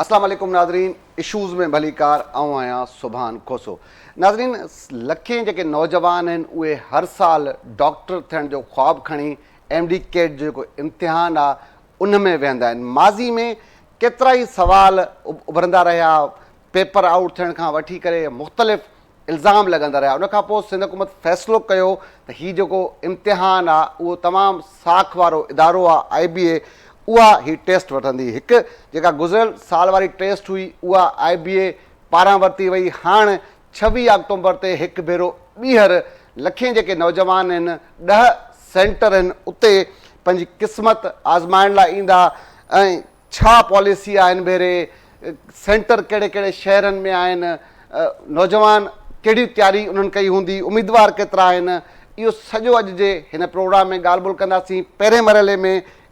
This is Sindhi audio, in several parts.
اسلام عليڪم ناظرين اشوز ۾ ڀليڪار آئون آهيان سبحان کوسو ناظرين لکين جيڪي نوجوان آهن اهي هر سال ڊاڪٽر ٿيڻ جو خواب کڻي ايم ڊي ڪيٽ جو جيڪو امتحان آهي ان ۾ ويهندا آهن. ماضي ۾ ڪيترائي سوال اڀرندا رهيا، پيپر آئوٽ ٿيڻ کان وٺي ڪري مختلف الزام لڳندا رهيا، ان کانپوء سنڌ حڪومت فيصلو ڪيو ته هي جيڪو امتحان آ اهو تمام ساک وارو ادارو آ آئي بي اي اها هي ٽيسٽ وٺندي، هڪ جيڪا گذريل سال واري ٽيسٽ هئي اها آئي بي اي پاران ورتي وئي، هاڻ ڇويهه آڪٽومبر تي هڪ ڀيرو ٻيهر لکين جيڪي نوجوان هن ڏهه سينٽر هن اتي پنهنجي قسمت آزمائڻ لاء ايندا ۽ ڇا پاليسي آهي هن ڀيري سينٽر ڪهڙي ڪهڙي شهرن ۾ آهن نوجوان ڪهڙي تياري انهن ڪئي هوندي اميدوار ڪيترا آهن اهو سڄو اڄ جي هن پروگرام ۾ ڳالهه ٻولهه ڪنداسين پهرين مرحلي ۾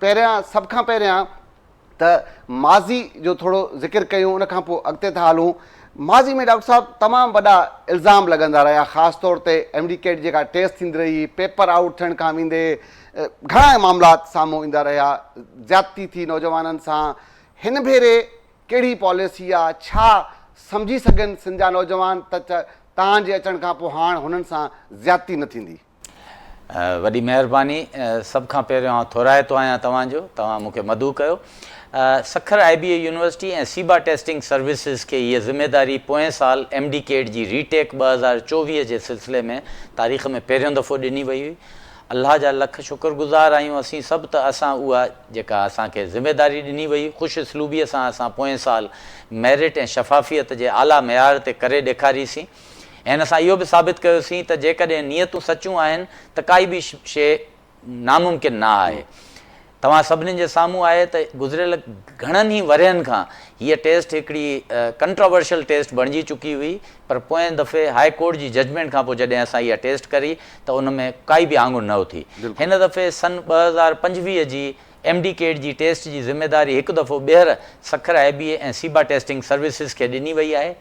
پهريان سڀ کان پهريان ته ماضي جو ٿورو ذڪر ڪيون ان کان پوء اڳتي ٿا هلون. ماضي ۾ ڊاڪٽر صاحب تمام وڏا الزام لڳندا رهيا خاص طور تي ايم ڊي ڪيٽ جيڪا ٽيسٽ ٿيندي رهي پيپر آئوٽ ٿيڻ کان ويندي گهڻا معاملات سامهون ايندا رهيا زيادتي ٿي نوجوانن سان هن ڀيري ڪهڙي پاليسي آ ڇا سمجهي سگهن سنڌ جا نوجوان ته توهان جي اچڻ کان پوء هاڻ هنن سان زيادتي نه ٿيندي. وڏي مهرباني. سڀ کان پهريون آئون ٿورائتو آهيان توهان جو. توهان مون کي مدعو ڪيو. Sukkur I B A university ۽ SIBA testing services کي هيء ذميداري پوئين سال ايم ڊي ڪيڊ جي ري ٽيڪ ٻه هزار چوويهه جي سلسلي ۾ تاريخ ۾ پهريون دفعو ڏني وئي هئي. الله جا لک شڪر گذار آهيون اسين سڀ ته اسان اها جيڪا اسان کي ذميداري ڏني وئي هئي خوش اسلوبيء سان اسان پوئين سال ميرٽ ۽ شفافيت جي اعليٰ معيار تي ڪري ڏيکاريسين. ۽ اسان اهو به ثابت ڪيوسين ته جيڪڏهن نيتون سچيون آهن ته ڪائي به شيء ناممڪن نه آهي. توهان سڀني جي سامهون آهي ته گذريل گهڻن ئي ورهين کان هيء ٽيسٽ هڪڙي ڪنٽراورشل ٽيسٽ بڻجي چڪي هئي پر پوئين دفعي هاء ڪورٽ جي ججمينٽ کان پوء جڏهن اسان اها ٽيسٽ ڪري ته ان ۾ ڪائي به آڱر نه اٿي. هن دفعي سن ٻه هزار پنجويهه جي ايم ڊي ڪيٽ جي ٽيسٽ جي ذميواري هڪ دفعو ٻيهر Sukkur I B A ۽ SIBA testing services کي ڏني وئي آهي.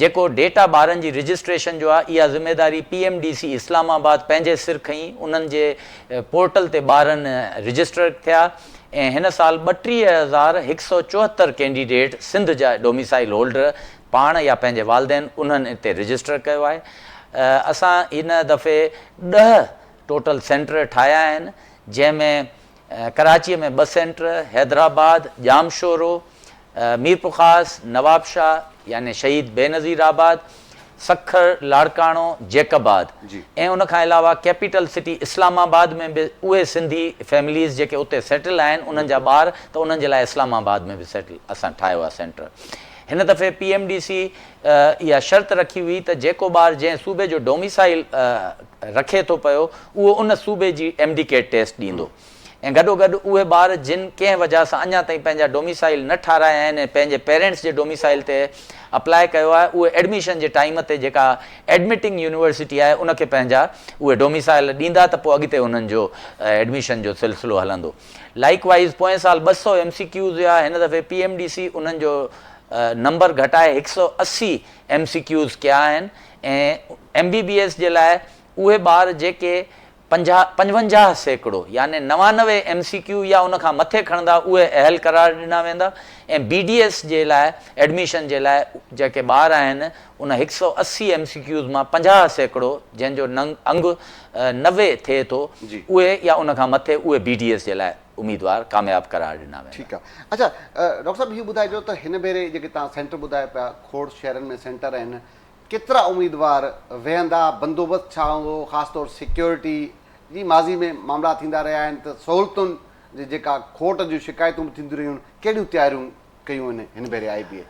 جيڪو ڊيٽا ٻارن جي رجسٽريشن جو آهي اها ذميواري P M D C Islamabad پنهنجي سر کنئي انهن جي پورٽل تي ٻارن رجسٽرڊ ٿيا ۽ هن سال ٻٽيهه هزار هڪ سؤ چوهتر ڪينڊيڊيٽ سنڌ جا ڊوميسائل هولڊر پاڻ يا پنهنجي والدين انهن اتي رجسٽر ڪيو آهي اسان هن دفعي ڏهه ٽوٽل سينٽر ٺاهيا آهن جنهن ۾ ڪراچيء ۾ ٻه سينٽر، حيدرآباد، ڄامشورو، ميرپورخاص، نوابشاهه يعني شهيد بينظير آباد، سکر، لاڙڪاڻو، جيڪب آباد ۽ ان کان علاوه ڪيپيٽل سٽي اسلام آباد ۾ به اهي سنڌي فيمليز جيڪي اتي سيٽل آهن انهن جا ٻار ته انهن جي لاء اسلام آباد ۾ به سيٽل اسان ٺاهيو آهي سينٽر. هن دفعي پي ايم ڊي سي اها شرط رکي هئي ته جيڪو ٻار جنهن صوبي جو ڊوميسائيل رکي ٿو پيو اهو ان صوبي جي ايم ڊي ڪيٽ ٽيسٽ ڏيندو ۽ گڏوگڏ اهي ٻار جن ڪنهن وجهه سان اڃا تائين پنهنجا ڊوميسائيل نه ٺارايا آهن ۽ پنهنجي پيرينٽس جي ڊوميسائيل تي اپلاء ڪيو آهي اهي ايڊميشن جي ٽائيم تي جيڪا ايڊمٽنگ يونيورسٽي آهي ان کي پنهنجا اهي ڊوميسائيل ڏيندا ته پوء اڳتي انهن جو ايڊميشن جو سلسلو هلندو لائيڪ وائيز پوئين سال ٻه سؤ ايم سي ڪيوز هيا هن دفعي پي ايم ڊي سي انهن جو نمبر گهٽائي هڪ سؤ اسي ايم سي ڪيوز ڪيا آهن ايم بي بي ايس جي لاء اهي ٻار جيڪي پنجاهه پنجونجاهه سيڪڙو يعني نوانوي ايم سي ڪيو يا ان کان مٿي کڻندا اهي اهل قرار ڏنا ويندا ۽ بي ڊي ايس جي لاء ايڊميشن جي لاء جيڪي ٻار آهن ان هڪ سؤ اسي ايم سي ڪيوز مان پنجاهه سيڪڙو جنهن جو انگ نوي ٿئي ٿو اهي يا ان کان مٿي اهي بي ڊي ايس جي لاء اميدوار ڪامياب قرار ڏنا ويندا. ٺيڪ آهي اڇا ڊاڪٽر صاحب هي ٻڌائجو ته هن ڀيري جيڪي توهان سينٽر ٻڌايا پيا کوڙ شهرن ۾ سينٽر آهن ڪيترا اميدوار ويهندا، بندوبست ڇا هوندو، خاص طور سيڪيورٽي جي ماضي ۾ معاملا ٿيندا رهيا آهن ته سهولتن جي جيڪا کوٽ جون شڪايتون به ٿينديون رهيون، ڪهڙيون تياريون ڪيون آهن هن ڀيري آء بي اي؟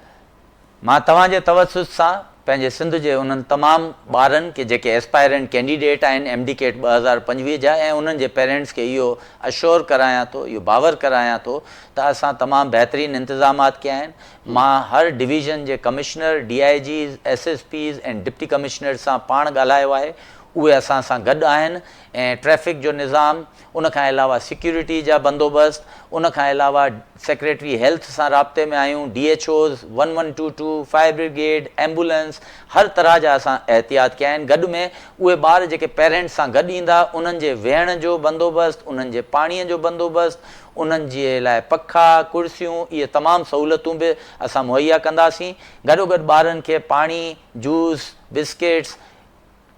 مان توهان جي توسط سان پنهنجي سنڌ جي انهن تمام ٻارن کي جيڪي ايسپائرنٽ ڪينڊيڊيٽ آهن ايم ڊي ڪيٽ ٻه هزار پنجويهه جا ۽ انهن جي پيرينٽس کي اهو اشور ڪرايان ٿو، اهو باور ڪرايان ٿو ته اسان تمام بهترين انتظامات ڪيا آهن، مان هر ڊويزن جي commissioner, D I Gs, S S Ps ۽ deputy commissioners سان پاڻ ڳالهايو آهي، اهي اسان سان گڏ آهن ۽ ٽريفڪ جو نظام، ان کان علاوه سيڪيورٽي جا بندوبست، ان کان علاوه سيڪريٽري هيلٿ سان رابطي ۾ آهيون، D H Os, one one two two, fire brigade, ambulance, هر طرح جا اسان احتياط ڪيا آهن، گڏ ۾ اهي ٻار جيڪي پيرنٽس سان گڏ ايندا انهن جي ويهڻ جو بندوبست، انهن جي پاڻي جو بندوبست، انهن جي لاء پکا، ڪرسيون اهي تمام سهولتون به اسان مهيا ڪنداسين. گڏوگڏ ٻارن کي پاڻي، جوس، بسڪيٽس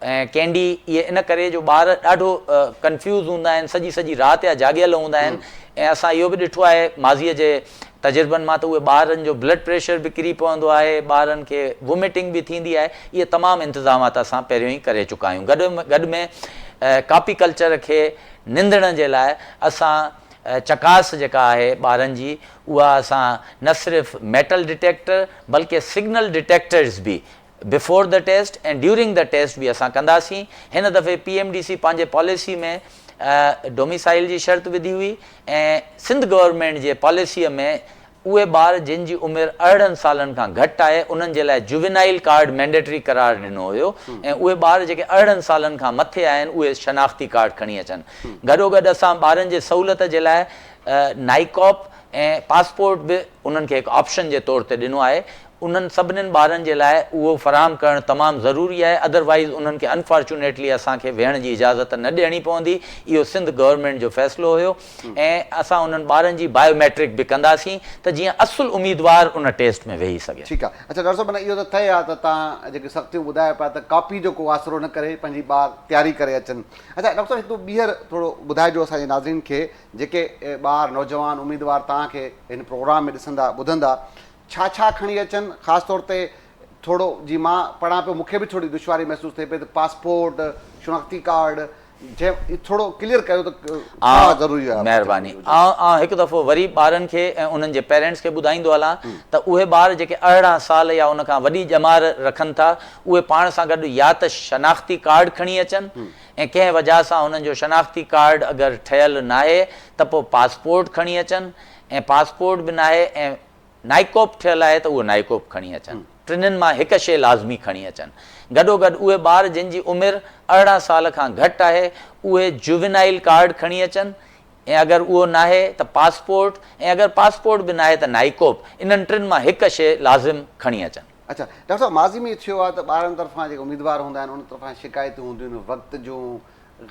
۽ ڪينڊي اهي ان ڪري جو ٻار ڏاڍو ڪنفيوز هوندا آهن سڄي سڄي رات يا جاڳيل هوندا آهن ۽ اسان اهو به ڏٺو آهي ماضي جي تجربن مان ته اهي ٻارن جو بلڊ پريشر به ڪري پوندو آهي ٻارن کي ووميٽنگ به ٿيندي آهي اهي تمام انتظامات اسان پهريون ئي ڪري چڪا آهيون گڏ ۾ ڪاپي ڪلچر کي نندڻ جي لاء اسان چڪاس جيڪا آهي ٻارن جي اها اسان نه صرف ميٽل ڊٽيڪٽر بلڪه سگنل ڊٽيڪٽرز به before the test ۽ during the test به اسان ڪنداسين هن دفعي پي ايم ڊي سي پنهنجي پاليسي ۾ ڊوميسائيل جي شرط وڌي هئي ۽ سنڌ گورنمينٽ جي پاليسي ۾ اهي ٻار جن جي عمر ارڙهن سالن کان گهٽ آهي انهن جي لاء جووينائيل ڪارڊ مينڊيٽري قرار ڏنو هيو ۽ اهي ٻار جيڪي ارڙهن سالن کان مٿي آهن اهي شناختي ڪارڊ کڻي اچن گڏوگڏ اسان ٻارن جي سهولت جي لاء نائيڪاپ ۽ پاسپورٽ به انهن کي هڪ آپشن جي طور تي ڏنو آهي انهن سڀني ٻارن جي لاء اهو فراهم ڪرڻ تمام ضروري آهي ادروائيز انهن کي انفارچونيٽلي اسان کي ويهڻ جي اجازت نه ڏيڻي پوندي اهو سنڌ گورنمينٽ جو فيصلو هيو. ۽ اسان انهن ٻارن جي بايو ميٽرڪ به ڪنداسين ته جيئن اصل اميدوار ان ٽيسٽ ۾ ويهي سگهي. ٺيڪ آ. اڇا ڊاڪٽر صاحب معنيٰ اهو ته طئي آ ته توهان جيڪي سختيون ٻڌايو پيا ته ڪاپي جو ڪو آسرو نه ڪري پنهنجي ٻار تياري ڪري اچن. اڇا ڊاڪٽر صاحب هڪ ٻيهر ٿورو ٻڌائجو اسان جي ناظرين کي جيڪي ٻار نوجوان اميدوار توهان کي هن پروگرام ۾ ڏسندا ٻڌندا ڇا ڇا کڻي اچن خاص طور تي ٿورو جي مان پڙهان پيو مون کي به ٿوري دشواري محسوس ٿئي پئي ته پاسپورٽ، شناختي ڪارڊ، ٿورو ڪليئر ڪيو ته ڇا ضروري آهي مهرباني آئون آئون هڪ دفعو وري ٻارن کي ۽ انهن جي پيرنٽس کي ٻڌائيندو هلان ته اهي ٻار جيڪي ارڙهن سال يا ان کان وڏي ڄمار رکن ٿا اهي پاڻ سان گڏ يا ته شناختي ڪارڊ کڻي اچن ۽ ڪنهن وجهه سان هنن جو شناختي ڪارڊ اگر ٺهيل ناهي ته پوء پاسپورٽ کڻي اچن ۽ پاسپورٽ به ناهي ۽ نائيڪوپ ٺھيل آھي ته اھو نائيڪوپ کڻي اچن. ٽنھن مان ھڪ شيء لازمي کڻي اچن. گڏوگڏ اھي ٻار جن جي عمر ارڙھن سال کان گھٽ آھي اھي جووينائيل ڪارڊ کڻي اچن ۽ اگر اھو ناھي ته پاسپورٽ ۽ اگر پاسپورٽ به ناھي ته نائيڪوپ انھن ٽن مان ھڪ شيء لازم کڻي اچن. اچا ڊاڪٽر صاحب ماضي ۾ ٿيو آھي ته ٻارن طرفان جيڪي اميدوار ھوندا آھن انھن طرفان شڪايتون ھونديون آھن وقت جون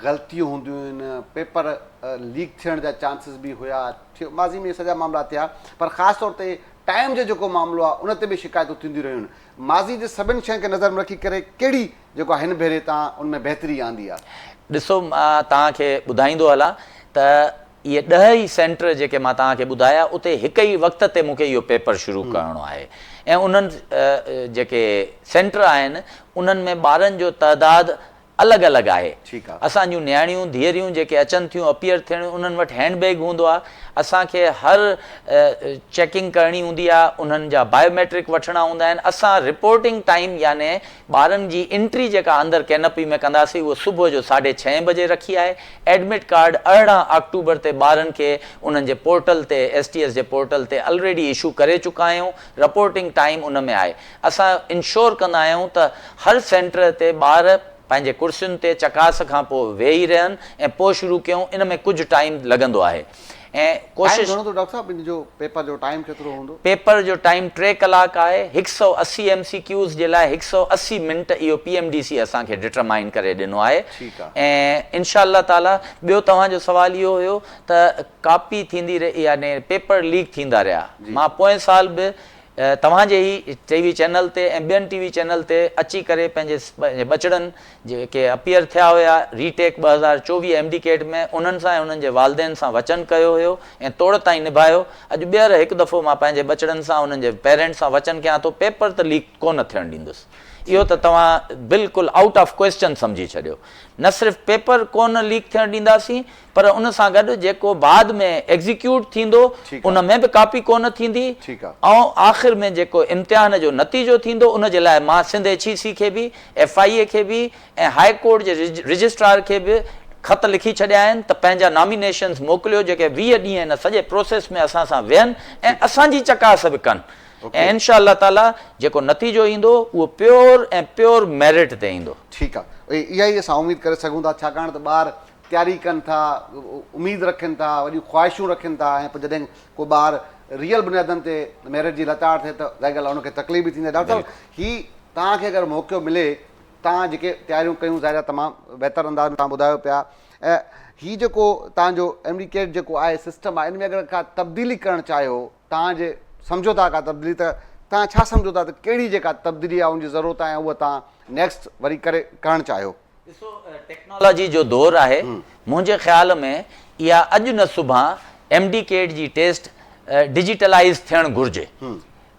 غلطيون هونديون آهن، پيپر ليڪ ٿيڻ جا چانسز به هيا، ماضي ۾ سڄا معاملا ٿيا پر خاص طور تي ٽائيم جو جيڪو معاملو آهي ان تي به شڪايتون ٿينديون رهيون، ماضي جي سڀن شين کي نظر ۾ رکي ڪري ڪهڙي جيڪو هن ڀيري تان ان ۾ بهتري آندي آهي؟ ڏسو مان توهان کي ٻڌائيندو هلان ته اهي ڏهه ئي سينٽر جيڪي مان توهان کي ٻڌايا اتي هڪ ئي وقت تي مون کي اهو پيپر شروع ڪرڻو آهي ۽ انهن جيڪي سينٽر آهن انهن ۾ ٻارن جو تعداد الڳ الڳ آهي. اسان جون نياڻيون، ڌيئريون جيڪي اچن ٿيون اپيئر ٿيڻ انهن وٽ هينڊ بيگ هوندو آهي. اسان کي هر چيڪنگ ڪرڻي هوندي آهي، انهن جا بايو ميٽرڪ وٺڻا هوندا آهن. اسان رپورٽنگ ٽائيم يعني ٻارن جي انٽري جيڪا اندر ڪينپي ۾ ڪنداسين اهو صبح جو ساڍي ڇهين بجي رکي آهي. ايڊمٽ ڪارڊ ارڙهن آڪٽوبر تي ٻارن کي انهن جي پورٽل تي ايس ٽي ايس جي پورٽل تي الريڊي اشو ڪري چڪا آهيون. رپورٽنگ ٽائيم ان ۾ آهي. اسان انشور ڪندا آهيون ته هر سينٽر تي ٻار پنهنجي ڪرسين تي چڪاس کان پوء ويهي رهن ۽ پوء شروع ڪيون ان ۾ ڪجهه ٽائيم لڳندو آهي ۽ ٽائيم ڪوشش. گهڻو ٿو ڊاڪٽر صاحب ان جو پيپر جو ٽائيم ڪيترو هوندو. پيپر جو ٽائيم ٽي ڪلاڪ آهي هڪ سؤ اسي ايم سي ڪيوز جي لاء هڪ سؤ اسي منٽ اهو پي ايم ڊي سي اسان کي ڊٽرمائن ڪري ڏنو آهي ٺيڪ آ. ۽ انشاء الله تعالي ٻيو توهان جو سوال اهو هيو ته ڪاپي ٿيندي رهي يعنيٰ پيپر ليڪ ٿيندا رهيا جي. مان پوئين سال به توهان جي هي ٽي وي چينل تي ۽ ٻين ٽي وي چينل تي اچي ڪري پنهنجي ٻچڙن جيڪي اپيئر ٿيا هيا ري ٽيڪ ٻه هزار چوويهه ايم ڊي ڪيٽ ۾ انهن سان ۽ انهن جي والدين سان وچن ڪيو هيو ۽ توڙ تائين نڀايو اڄ ٻيهر هڪ دفعو مان پنهنجي ٻچڙن سان انهن جي پيرنٽ سان وچن ڪيان ٿو پيپر ته ليڪ ڪونه ٿيڻ ڏيندس اهو ته توهان بلڪل آئوٽ آف ڪوئسچن سمجهي ڇڏيو نه صرف پيپر ڪونه ليڪ ٿيڻ ڏينداسين پر ان سان گڏ جيڪو بعد ۾ ايگزيڪيوٽ ٿيندو ان ۾ به ڪاپي ڪونه ٿيندي ۽ آخر ۾ جيڪو امتحان جو نتيجو ٿيندو ان جي لاء مان سنڌ ايڇ اي سي کي به ايف آء اي کي به ۽ هاء ڪورٽ جي رجسٽرار کي به خط لکي ڇڏيا آهن ته پنهنجا نامينيشنز موڪليو جيڪي ويهه ڏينهن ان سڄي پروسيس ۾ اسان سان ويهن ۽ اسان جي چڪاس به ڪن ۽ انشاء الله تعاليٰ جيڪو نتيجو ايندو اهو پيور ۽ پيور ميرٽ تي ايندو. ٺيڪ آهي اها ئي اسان اميد ڪري سگهون ٿا ڇاڪاڻ ته ٻار تياري ڪن ٿا، اميد رکن ٿا، وڏيون خواهشون رکن ٿا ۽ پوء جڏهن ڪو ٻار ريئل بنيادن تي ميرٽ جي لتاڙ ٿئي ته ظاهر ڳالهه آهي ان کي تڪليف به ٿيندي آهي. ڊاڪٽر صاحب هي توهان کي اگر موقعو ملي توهان جيڪي تياريون ڪيون ظاهر آهي تمام بهتر انداز ۾ توهان ٻڌايو پيا ۽ هي جيڪو توهان جو ايم ڊي ڪيٽ جيڪو آهي سسٽم آهي ان ۾ اگر ڪا تبديلي ڪرڻ چاهيو توهان جي سمجهو ٿا ڪا تبديلي ته توهان ڇا سمجهو ٿا ته ڪهڙي جيڪا تبديلي آهي ان جي ضرورت آهي ۽ اها توهان نيڪسٽ وري ڪري ڪرڻ چاهيو. ڏسو ٽيڪنالاجي جو دور آهي منهنجي خيال ۾ اها اڄ نه سڀان ايم ڊي ڪيٽ جي ٽيسٽ ڊجيٽلائيز ٿيڻ گهرجي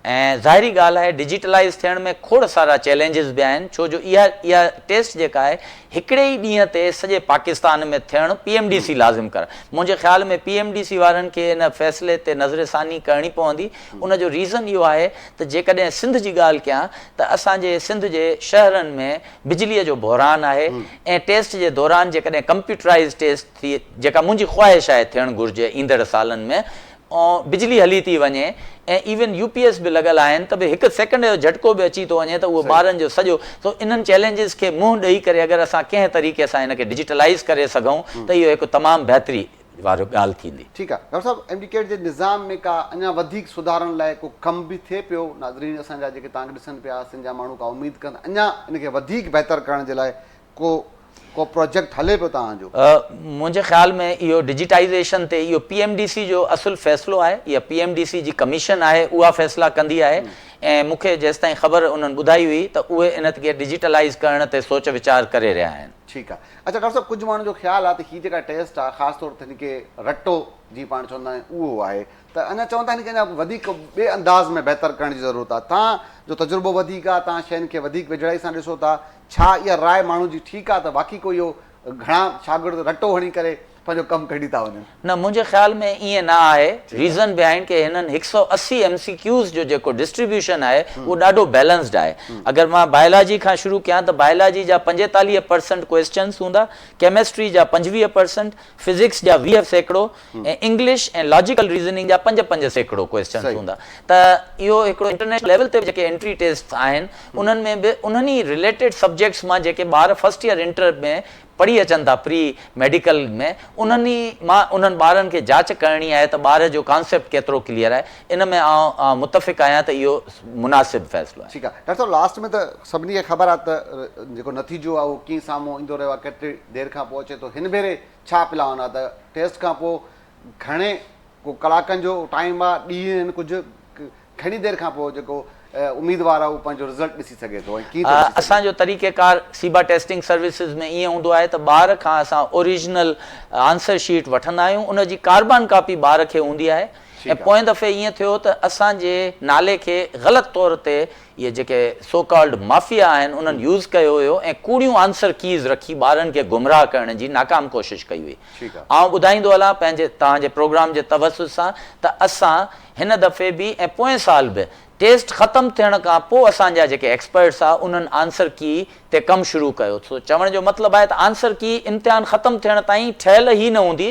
۽ ظاهري ڳالهه آهي ڊجيٽلائيز ٿيڻ ۾ کوڙ سارا چئلينجز به آهن ڇو جو اها اها ٽيسٽ جيڪا آهي هڪڙي ئي ڏينهن تي سڄي پاڪستان ۾ ٿيڻ پي ايم ڊي سي لازم ڪرڻ منهنجي خيال ۾ پي ايم ڊي سي وارن کي ان فيصلي تي نظر ثاني ڪرڻي پوندي ان جو ريزن اهو آهي ته جيڪڏهن سنڌ جي ڳالهه ڪيان ته اسان جي سنڌ جي شهرن ۾ بجليء جو بحران آهي ۽ ٽيسٽ جي دوران جيڪڏهن ڪمپيوٽرائيز ٽيسٽ ٿئي جيڪا منهنجي خواهش آهي ٿيڻ گهرجي ايندڙ سالن ۾ بجلي هلي ٿي وڃي ۽ ايون يو پي ايس به لڳل آهن ته به هڪ سيڪنڊ جو جهٽڪو به اچي ٿو وڃي ته اهو ٻارن جو سڄو سو انهن چئلينجز کي منهن ڏئي ڪري اگر اسان ڪنهن طريقي سان ان کي ڊجيٽلائيز ڪري سگهون ته اهو هڪ تمام بهتري وارو ڳالهه ٿيندي. ٺيڪ آ ڊاڪٽر صاحب ايم ڊي ڪيڊ جي نظام ۾ ڪا اڃا وڌيڪ سڌارن لاء ڪو ڪم به ٿئي پيو ناظرين اسان جا جيڪي تانکي ڏسن پيا سنڌ جا ماڻهو ڪا اميد ڪن ٿا اڃا ان کي وڌيڪ بهتر ڪرڻ جي لاء ڪو ڪو پروجيڪٽ هلي پيو توهان جو. منهنجي خيال ۾ اهو ڊجيٽائيزيشن تي اهو پي ايم ڊي سي جو اصل فيصلو آهي اها پي ايم ڊي سي جي ڪميشن آهي اها فيصلا ڪندي آهي ۽ مون کي جيستائين خبر انهن ٻڌائي هئي ته اهي ان کي ڊجيٽلائيز ڪرڻ تي سوچ ويچار ڪري رهيا آهن. ٺيڪ آ. اچھا ڊاڪٽر صاحب ڪجھ ماڻهن جو خيال آ ته هي جيڪا ٽيسٽ آ خاص طور تي هن کي رٽو جيئن پاڻ چوندا آهيون اهو آهي ته اڃا چون ٿا هن کي اڃا وڌيڪ ٻئي انداز ۾ بهتر ڪرڻ جي ضرورت آ توهان جو تجربو وڌيڪ آ توهان شين کي وڌيڪ ويجهڙائي سان ڏسو ٿا ڇا اها راء ماڻهن جي ٺيڪ آ ته واقعي ڪو اهو گهڻا شاگرد رٽو هڻي ڪري پنهنجو ڪم ڪڍي ٿا وڃن. نه منهنجي خيال ۾ ائين نه آهي ريزن بيهائنڊ ڪي هنن هڪ سؤ اسي ايم سي ڪيوز جو جيڪو ڊسٽريبيوشن آهي اهو ڏاڍو بيلنسڊ آهي اگر مان بائلاجي کان شروع ڪيان ته بائلاجي جا پنجيتاليهه پرسنٽ ڪوئسچنس هوندا ڪيمسٽري جا پنجويهه پرسنٽ فزڪس جا ويهه سيڪڙو ۽ انگلش ۽ لاجيڪل ريزننگ جا پنج پنج سيڪڙو ڪوئسچنس هوندا ته اهو هڪڙو انٽرنيشنل ليول تي به جيڪي انٽري ٽيسٽس آهن انهن ۾ به انهن ئي رليٽيڊ سبجيڪٽس مان جيڪي ٻار فرسٽ ييئر انٽر ۾ پڙهي اچن ٿا پري ميڊيڪل ۾ انهن ئي مان انهن ٻارن کي جاچ ڪرڻي آهي ته ٻار جو ڪانسيپٽ ڪيترو ڪليئر آهي ان ۾ آئون متفق آهيان ته اهو مناسب فيصلو آهي. ٺيڪ آهي ڊاڪٽر صاحب لاسٽ ۾ ته سڀني کي خبر آهي ته جيڪو نتيجو آهي اهو ڪيئن سامهون ايندو رهيو آهي ڪيتري دير کان پوء اچي ٿو هن ڀيري ڇا پلان آهي ته ٽيسٽ کان پوء گهڻي ڪو ڪلاڪن جو ٽائيم آهي ڏينهن آهن ڪجهه گهڻي دير کان پوء جيڪو اميدوار آهي اهو پنهنجو رزلٽ ڏسي سگهي ٿو ۽ ڪيئن ٿو ڏسي سگهي؟ اسان جو طريقه ڪار سيبا ٽيسٽنگ سروسز ۾ ائين هوندو آهي ته ٻار کان اسان اوريجنل آنسر شيٽ وٺندا آهيون ان جي ڪاربان ڪاپي ٻار کي هوندي آهي ۽ پوئين دفعي ائين ٿيو ته اسان جي نالي کي غلط طور تي اهي جيڪي سو ڪالڊ مافيا آهن انهن يوز ڪيو هيو ۽ ڪوڙيون آنسر ڪيز رکي ٻارن کي گمراهه ڪرڻ جي ناڪام ڪوشش ڪئي هئي آئون ٻڌائيندو هلان پنهنجي توهان جي پروگرام جي توسط سان ته اسان هن دفعي به ۽ پوئين سال به ٽيسٽ ختم ٿيڻ کان پوء اسان جا جيڪي ايڪسپرٽس آ انهن آنسر ڪي تي ڪم شروع ڪيو سو چوڻ جو مطلب آهي ته آنسر ڪي امتحان ختم ٿيڻ تائين ٺهيل ئي نه هوندي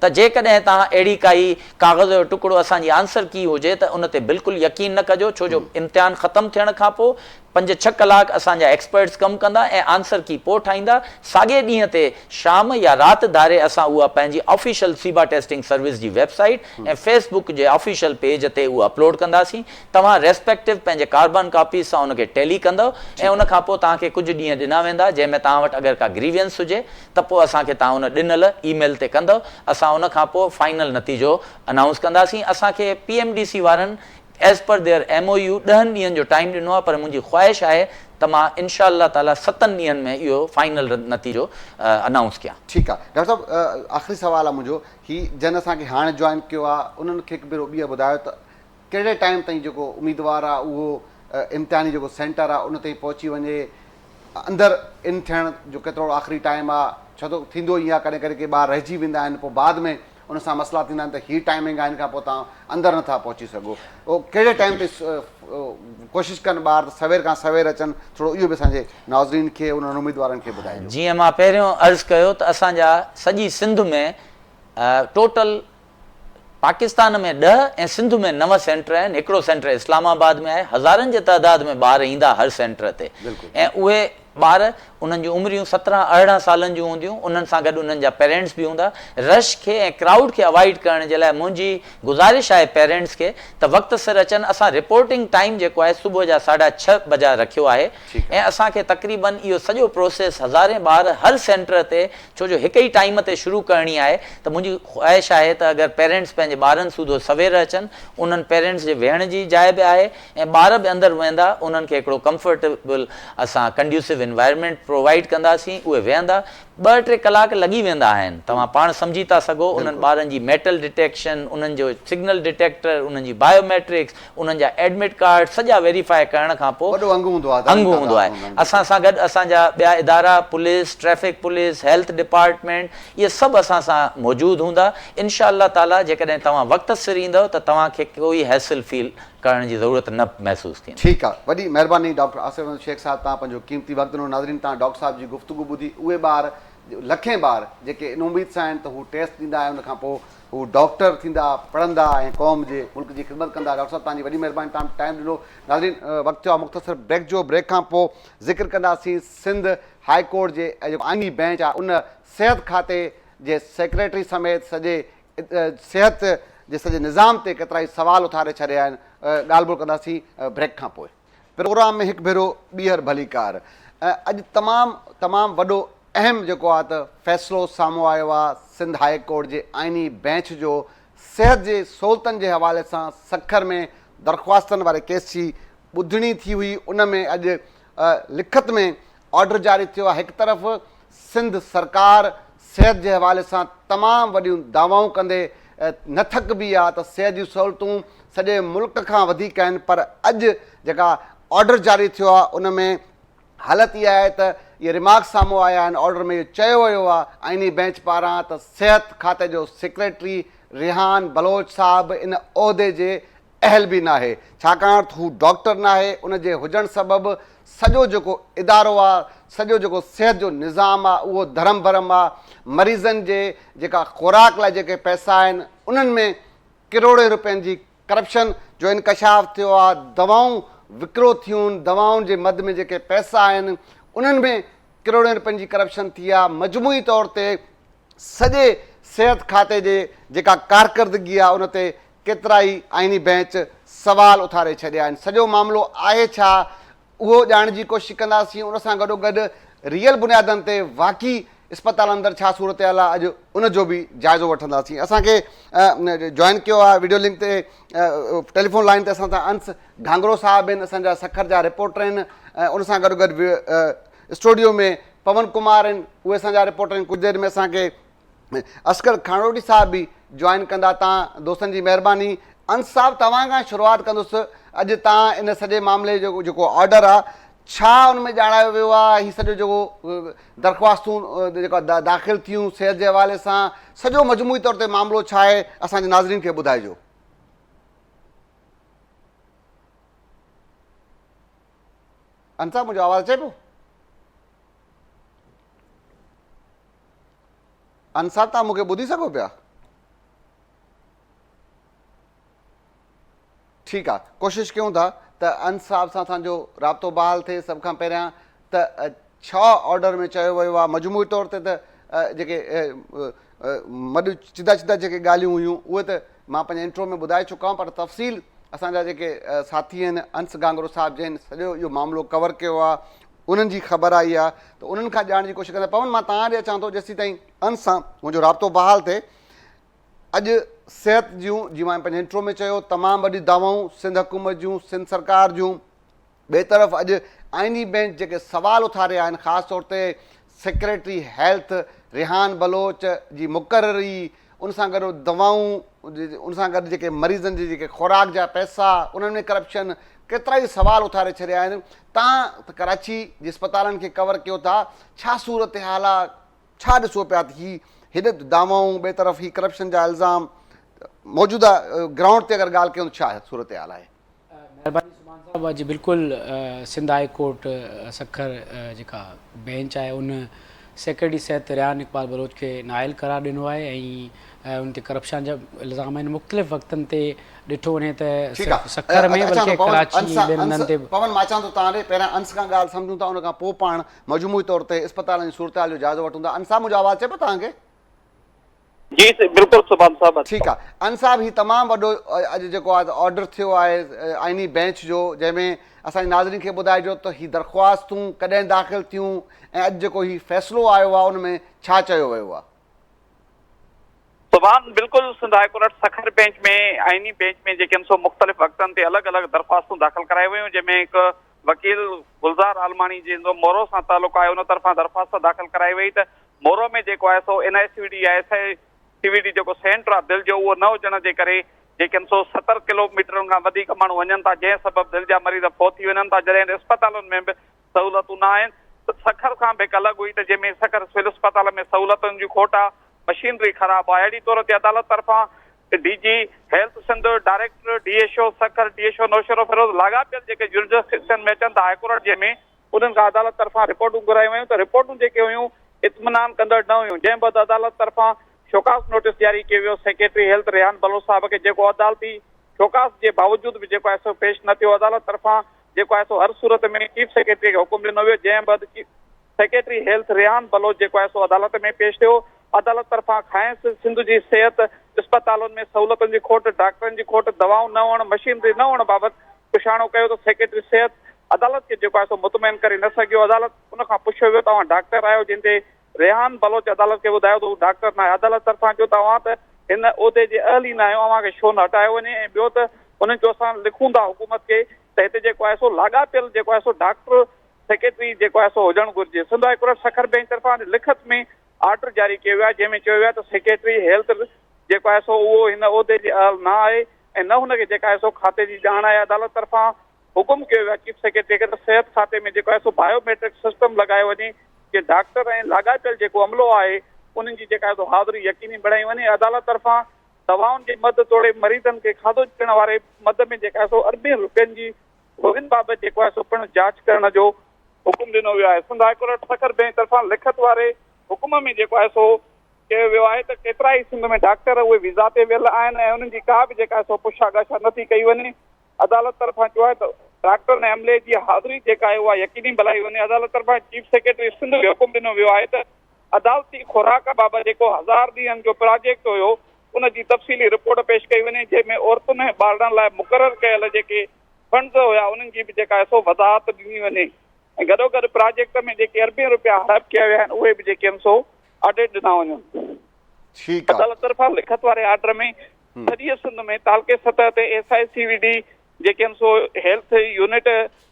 ته جيڪڏهن توهان اهڙي ڪائي ڪاغذ جو ٽڪڙو اسان جي آنسر ڪي هجي ته ان تي بلڪل يقين نه ڪجو ڇو جو امتحان ختم ٿيڻ کان پوء پنج ڇهه ڪلاڪ اسان جا ايڪسپرٽس ڪم ڪندا ۽ آنسر ڪي پوء ٺاهيندا، ساڳئي ڏينهن تي شام يا رات ڌاري اسان اها پنهنجي آفيشل سيبا ٽيسٽنگ سروس جي ويب سائيٽ ۽ فيس بڪ جي آفيشل پيج تي اهو اپلوڊ ڪنداسين، توهان ريسپيڪٽو پنهنجي ڪاربان ڪاپيز سان ان کي ٽيلي ڪندؤ ۽ ان کان پوء توهان کي ڪجهه ڏينهن ڏنا ويندا جنهن ۾ توهان وٽ اگر ڪا گريوينس هجي ته پوء اسان کي توهان ان ڏنل اي ميل تي ڪندؤ، اسان ان کان پوء فائنل نتيجو انائونس ڪنداسين، اسان کي پي ايم ڊي سي وارن. As per their M O U ڏهن ڏينهن جو ٽائيم ڏنو آهي پر منهنجي خواهش آهي ته مان انشاء الله تعالي ستن ڏينهن ۾ اهو فائنل نتيجو انائونس ڪيان. ٺيڪ آ ڊاڪٽر صاحب آخري سوال آ منهنجو هي جن اسان کي هاڻ جوائن ڪيو آ انهن کي هڪ ڀيرو ٻيهر ٻڌايو ته ڪهڙي ٽائيم تائين جيڪو اميدوار آ اهو امتحاني جيڪو سينٽر آ ان تائين پهچي وڃي اندر ان ٿيڻ جو ڪيترو آخري ٽائيم آ ڇو ته ٿيندو ائين آ ڪڏهن ڪڏهن ڪي ٻار رهجي ويندا آهن پوء بعد ۾ ان سان مسئلا ٿيندا آهن ته هي ٽائمنگ آهي ان کان پوء تان اندر نٿا پهچي سگهو او ڪهڙي ٽائم تي ڪوشش ڪن ٻار ته سوير کان سوير اچن ٿورو اهو به اسان جي ناظرين کي انهن اميدوارن کي ٻڌائجو. جيئن مان پهريون عرض ڪيو ته اسان جا سڄي سنڌ ۾ ٽوٽل پاڪستان ۾ ڏهه ۽ سنڌ ۾ نو سينٽر آهن هڪڙو سينٽر اسلام آباد ۾ آهي هزارن جي تعداد ۾ ٻار ايندا هر سينٽر تي ۽ اهي ٻار، انهن جون عمريون سترهن ارڙهن سالن جون هونديون، انهن سان گڏ انهن جا پيرينٽس به هوندا. رش کي ۽ ڪرائوڊ کي اوائڊ ڪرڻ جي لاء منهنجي گذارش آهي پيرينٽس کي ته وقت سر اچن، اسان رپورٽنگ ٽائيم جيڪو آهي صبح جا ساڍا ڇهه بجا رکيو آهي ۽ اسان کي تقريبن اهو سڄو پروسيس هزارين ٻار هر سينٽر تي ڇو جو هڪ ئي ٽائيم تي شروع ڪرڻي آهي ته منهنجي خواهش آهي ته اگر پيرينٽس پنهنجي ٻارن سوڌو سوير اچن، انهن پيرينٽس جي ويهڻ جي جاء به آهي. ۽ ٻار به اندر ويهندا انهن کي هڪڙو ڪمفرٽيبل اسان ڪنڊيوسو انوائرمينٽ پرووائيڊ ڪنداسين اهي ويهندا ٻه ٽي ڪلاڪ لڳي ويندا آهن توهان پاڻ سمجهي ٿا سگهو انهن ٻارن جي ميٽل ڊٽيڪشن انهن جو سگنل ڊٽيڪٽر انهن جي بايو ميٽرڪس انهن جا ايڊمٽ ڪارڊ سڄا ويريفائي ڪرڻ کان پوء وڏو انگ هوندو آهي انگ هوندو آهي اسان سان گڏ اسان جا ٻيا ادارا police traffic police health department اهي سڀ اسان سان موجود هوندا انشاء الله تعالي جيڪڏهن توهان وقت سر ايندؤ ته توهان کي ڪوئي هيسل فيل ڪرڻ جي ضرورت نه محسوس ٿيندي. ٺيڪ آ وڏي مهرباني ڊاڪٽر آصف احمد شيخ صاحب توهان پنهنجو قيمتي وقت ڏنو ناظرين توهان ڊاڪٽر صاحب جي گفتگو ٻڌي اهي ٻار لکين ٻار جيڪي ان اميد سان آهن ته هو ٽيسٽ ڏيندا ۽ ان کان پوء هو ڊاڪٽر ٿيندا پڙهندا ۽ قوم جي ملڪ جي خدمت ڪندا ڊاڪٽر صاحب توهان جي وڏي مهرباني توهان ٽائيم ڏنو ناظرين وقت ٿيو آهي مختصر بريڪ جو بريڪ کان پوء ذڪر ڪنداسين سنڌ هاء ڪورٽ جي جيڪو آئيني بينچ آهي ان صحت کاتي جي سيڪريٽري سميت سڄي صحت جي سڄي نظام تي ڪيترائي سوال اٿاري ڇڏيا آهن ڳالهه ٻولهه ڪنداسين بريڪ کان پوء. پروگرام ۾ هڪ ڀيرو ٻيهر ڀليڪار. اڄ تمام تمام وڏو اهم جيڪو آهي ته فيصلو سامهون آيو آهي سنڌ هاء ڪورٽ جي آئيني بئنچ جو صحت جي سهولتن جي حوالي سان سکر ۾ درخواستن واري ڪيس جي ٻڌڻي ٿي هئي ان ۾ اڄ لکت ۾ آرڊر جاري ٿيو آهي هڪ طرف سنڌ سرڪار صحت جي حوالي سان تمام وڏيون دعوائون ڪندي نه ٿڪبي آهي ته صحت جون سهولتون سڄي ملڪ کان وڌيڪ آهن پر اڄ جيڪا آرڊر جاري ٿيو آهي ان ۾ حالت اها آهي ته اهي رمارڪس سامهون آيا آهن آرڊر ۾ اهو چيو ويو آهي آئيني بئنچ پاران ته صحت کاتي جو سيڪريٽري ريحان بلوچ صاحب ان عهدي جي اهل به ناهي ڇاڪاڻ ته هو ڊاڪٽر ناهي ان جي هجڻ سبب سڄو جيڪو ادارو آ سڄو جيڪو صحت جو نظام آ اهو ڌرم ڀرم آ مريضن جي جيڪا خوراڪ لاء جيڪي پئسا آهن انهن ۾ ڪروڙين روپين جي ڪرپشن جو انڪشاف ٿيو آ دوائون وڪرو ٿيون دوائن جي مد ۾ جيڪي پئسا آهن انهن ۾ ڪروڙين روپين جي ڪرپشن ٿي آ مجموعي طور تي سڄي صحت کاتي جي جيڪا ڪارڪردگي آهي ان تي ڪيترائي آئيني بئنچ سوال اٿاري ڇڏيا آهن سڄو معاملو آهي ڇا اهو ڄاڻڻ جي ڪوشش ڪنداسين ان سان گڏوگڏ ريئل بنيادن تي واقعي اسپتالن اندر ڇا صورتحال آهي اڄ ان جو به جائزو وٺنداسين اسان کي جوائن ڪيو آهي ويڊيو لنڪ تي ٽيليفون لائن تي اسان سان انس گھانگرو صاحب آهن اسان جا سکر جا رپورٽر آهن ان سان گڏوگڏ اسٽوڊيو ۾ پون ڪمار آهن اهي اسان جا رپورٽر آهن ڪجهه دير ۾ اسان کي اصغر کانئوڙي صاحب به جوائن ڪندا توهان دوستن جي مهرباني انس صاحب توهان کان شروعات ڪندس اڄ توهان ان سڄي معاملي جو جيڪو آرڊر آهي ڇا ان ۾ ڄاڻايو ويو آهي هي سڄو جيڪو درخواستون جيڪا داخل ٿيون صحت جي حوالي سان سڄو مجموعي طور تي معاملو ڇا آهي اسان جي ناظرين کي ٻڌائجو انت صاحب منهنجو آواز اچي پيو انت صاحب تان مونکي ٻڌي سگهو پيا ٺيڪ آ ڪوشش ڪيون ٿا ته انت صاحب سان اسان جو رابطو بحال ٿئي سڀ کان پهريان ته ڇا آرڊر ۾ چيو ويو آهي مجموعي طور تي ته جيڪي مڏ چدا چدا جيڪي ڳالهيون هيون اهي ته مان پنهنجي انٽرو ۾ ٻڌائي چڪو آهيان پر تفصيل اسان جا جيڪي ساٿي آهن انس گانگرو صاحب جنهن سڄو اهو معاملو ڪور ڪيو آهي انهن جي خبر آئي آهي ته انهن کان ڄاڻڻ جي ڪوشش ڪنداسين پون مان توهان ڏي اچان ٿو جيسيتائين انس سان منهنجو رابطو بحال ٿئي اڄ صحت جون جيئن مان پنهنجي انٽرو ۾ چيو تمام وڏي دعوائون سنڌ حڪومت جون سنڌ سرڪار جون ٻئي طرف اڄ آئيني بينچ جيڪي سوال اٿاري آهن خاص طور تي سيڪريٽري هيلٿ ريحان بلوچ جي مقرري ان سان گڏ دعوائون ان سان گڏ جيڪي مريضن جي جيڪي خوراڪ جا پئسا انهن ۾ ڪرپشن ڪيترا ئي سوال اٿاري ڇڏيا آهن تان ته ڪراچي جي اسپتالن کي ڪور ڪيو ٿا ڇا صورتحال ڇا ڏسو پيا ته هي هيڏي دعوائون ٻئي طرف هي ڪرپشن جا الزام موجوده گرائونڊ تي اگر ڳالهه ڪيون ته ڇا صورتحال آهي. مهرباني سبحان صاحب اڄ بلڪل سنڌ هائي ڪورٽ سکر جيڪا بينچ آهي ان سيڪريٽري صحت ريان اقبال بلوچ کي نااهل قرار ڏنو آهي ۽ ان تي ڪرپشان جا الزام آهن مختلف وقتن تي ڏٺو وڃي ته سکر ۾ بلڪه ڪراچي ٻين هنڌن تي به. پون مان اچان ٿو تان ڏي پهريان انس کان ڳالهه سمجهون ٿا ان کان پوء پاڻ مجموعي طور تي اسپتالن جي صورتحال جو جائزو وٺون ٿا انصاف منهنجو آواز اچي پيو توهان کي. جي بلڪل سبحان صاحب اچي ٺيڪ آ ان صاحب هي تمام وڏو اڄ جيڪو آ آرڊر ٿيو آهي آئيني بينچ جو جنهن ۾ اسان جي ناظرين کي ٻڌائجو ته هي درخواستون ڪڏهن داخل ٿيون ۽ اڄ جيڪو هي فيصلو آيو آ ان ۾ ڇا چيو ويو آ سبحان بلڪل Sindh high court Sukkur bench ۾ آئيني بينچ ۾ جيڪي سو مختلف وقتن تي الڳ الڳ درخواستون داخل ڪرايو ويون جنهن ۾ هڪ وڪيل گلزار عالماڻي جنهن جو مورو سان تعلق آهي ان طرفان درخواست داخل ڪرائي وئي ته مورو ۾ جيڪو آهي سو اين آء سي ڊي يا S I C V D جيڪو سينٽر آهي دل جو اهو نه هجڻ جي ڪري جيڪن سو ستر ڪلوميٽرن کان وڌيڪ ماڻهو وڃن ٿا جنهن سبب دل جا مريض فوت ٿي وڃن ٿا جڏهن اسپتالن ۾ به سهولتون نه آهن سکر کان به هڪ الڳ هئي ته جنهن ۾ سکر سول اسپتال ۾ سهولتن جي کوٽ آهي مشينري خراب آهي اهڙي طور تي عدالت طرفان D G health Sindh, director D H O Sukkur, D H O Naushahro Feroze لاڳاپيل جيڪي جورسڊڪشن ۾ اچن ٿا هاء ڪورٽ جنهن ۾ انهن کان عدالت طرفان رپورٽون گهرايون ويون ته رپورٽون جيڪي هيون اطمينان ڪندڙ نه هيون جنهن بعد عدالت طرفان شوڪاز نوٽيس جاري ڪيو ويو سيڪريٽري هيلٿ ريحان بلوچ صاحب کي جيڪو عدالتي شوڪاز جي باوجود به جيڪو ايس او پيش نه ٿيو عدالت طرفان جيڪو آهي سو هر صورت ۾ چيف سيڪريٽري کي حڪم ڏنو ويو جنهن بعد chief secretary health Rehan Baloch جيڪو آهي سو عدالت ۾ پيش ٿيو عدالت طرفان کانئس سنڌ جي صحت اسپتالن ۾ سهولتن جي کوٽ ڊاڪٽرن جي کوٽ دوائون نه هئڻ مشينري نه هئڻ بابت پڇاڻو ڪيو ته سيڪريٽري صحت عدالت کي جيڪو آهي سو مطمئن ڪري نه سگهيو عدالت ان کان پڇيو ويو توهان ڊاڪٽر آهيو جنهن تي ريحان بلوچ عدالت کي ٻڌايو ته هو ڊاڪٽر ناهي، عدالت طرفان چيو ته اوهان ته هن عهدي جي اهل ئي ناهيو، اوهان کي ڇو نه هٽايو وڃي ۽ ٻيو ته انهن چيو اسان لکون ٿا حڪومت کي ته هتي جيڪو آهي سو لاڳاپيل جيڪو آهي سو ڊاڪٽر سيڪريٽري جيڪو آهي سو هجڻ گهرجي، Sindh high court Sukkur bench طرفان اڄ لکت ۾ آرڊر جاري ڪيو ويو آهي جنهن ۾ چيو ويو آهي ته سيڪريٽري هيلٿ جيڪو آهي سو اهو هن عهدي جي اهل نه آهي ۽ نه هن کي جيڪا آهي سو کاتي جي ڄاڻ آهي، عدالت طرفان حڪم ڪيو ويو آهي چيف سيڪريٽري کي ته صحت کاتي ۾ جيڪو آهي سو بايو ميٽرڪ سسٽم لڳايو وڃي جي ڊاڪٽر ۽ لاڳاپيل جيڪو عملو آهي انهن جي جيڪا آهي سو حاضري يقيني بڻائي وڃي عدالت طرفان دوائن جي مد توڙي مريضن کي کاڌو ڏيڻ واري مد ۾ جيڪا آهي سو اربين رپين جي گهرن بابت جيڪو آهي سو پڻ جاچ ڪرڻ جو حڪم ڏنو ويو آهي Sindh high court Sukkur bench طرفان لکت واري حڪم ۾ جيڪو آهي سو چيو ويو آهي ته ڪيترائي سنڌ ۾ ڊاڪٽر اهي ويزا تي ويل آهن ۽ انهن جي ڪا به جيڪا آهي سو پڇا ڳاڇا نٿي ڪئي وڃي عدالت طرفان چيو آهي ته ڊاڪٽرن ۽ عملي جي حاضري جيڪا آهي اها يقيني بنائي وڃي، عدالت طرفان چيف سيڪريٽري سنڌ کي حڪم ڏنو ويو آهي ته عدالتي خوراڪ بابت جيڪو هزار ڏينهن جو پراجيڪٽ هيو ان جي تفصيلي رپورٽ پيش ڪئي وڃي جنهن ۾ عورتن ۽ ٻارڙن لاء مقرر ڪيل جيڪي فنڊز هيا انهن جي به جيڪا آهي سو وضاحت ڏني وڃي ۽ گڏوگڏ پراجيڪٽ ۾ جيڪي اربين رپيا هڙپ ڪيا ويا آهن اهي به جيڪي آهن سو آڊٽ ڏنا وڃن. عدالت طرفان لکت واري آرڊر ۾ سڄيء سنڌ ۾ تعلقي سطح تي S I C V D جيڪي آهن سو هيلٿ يونٽ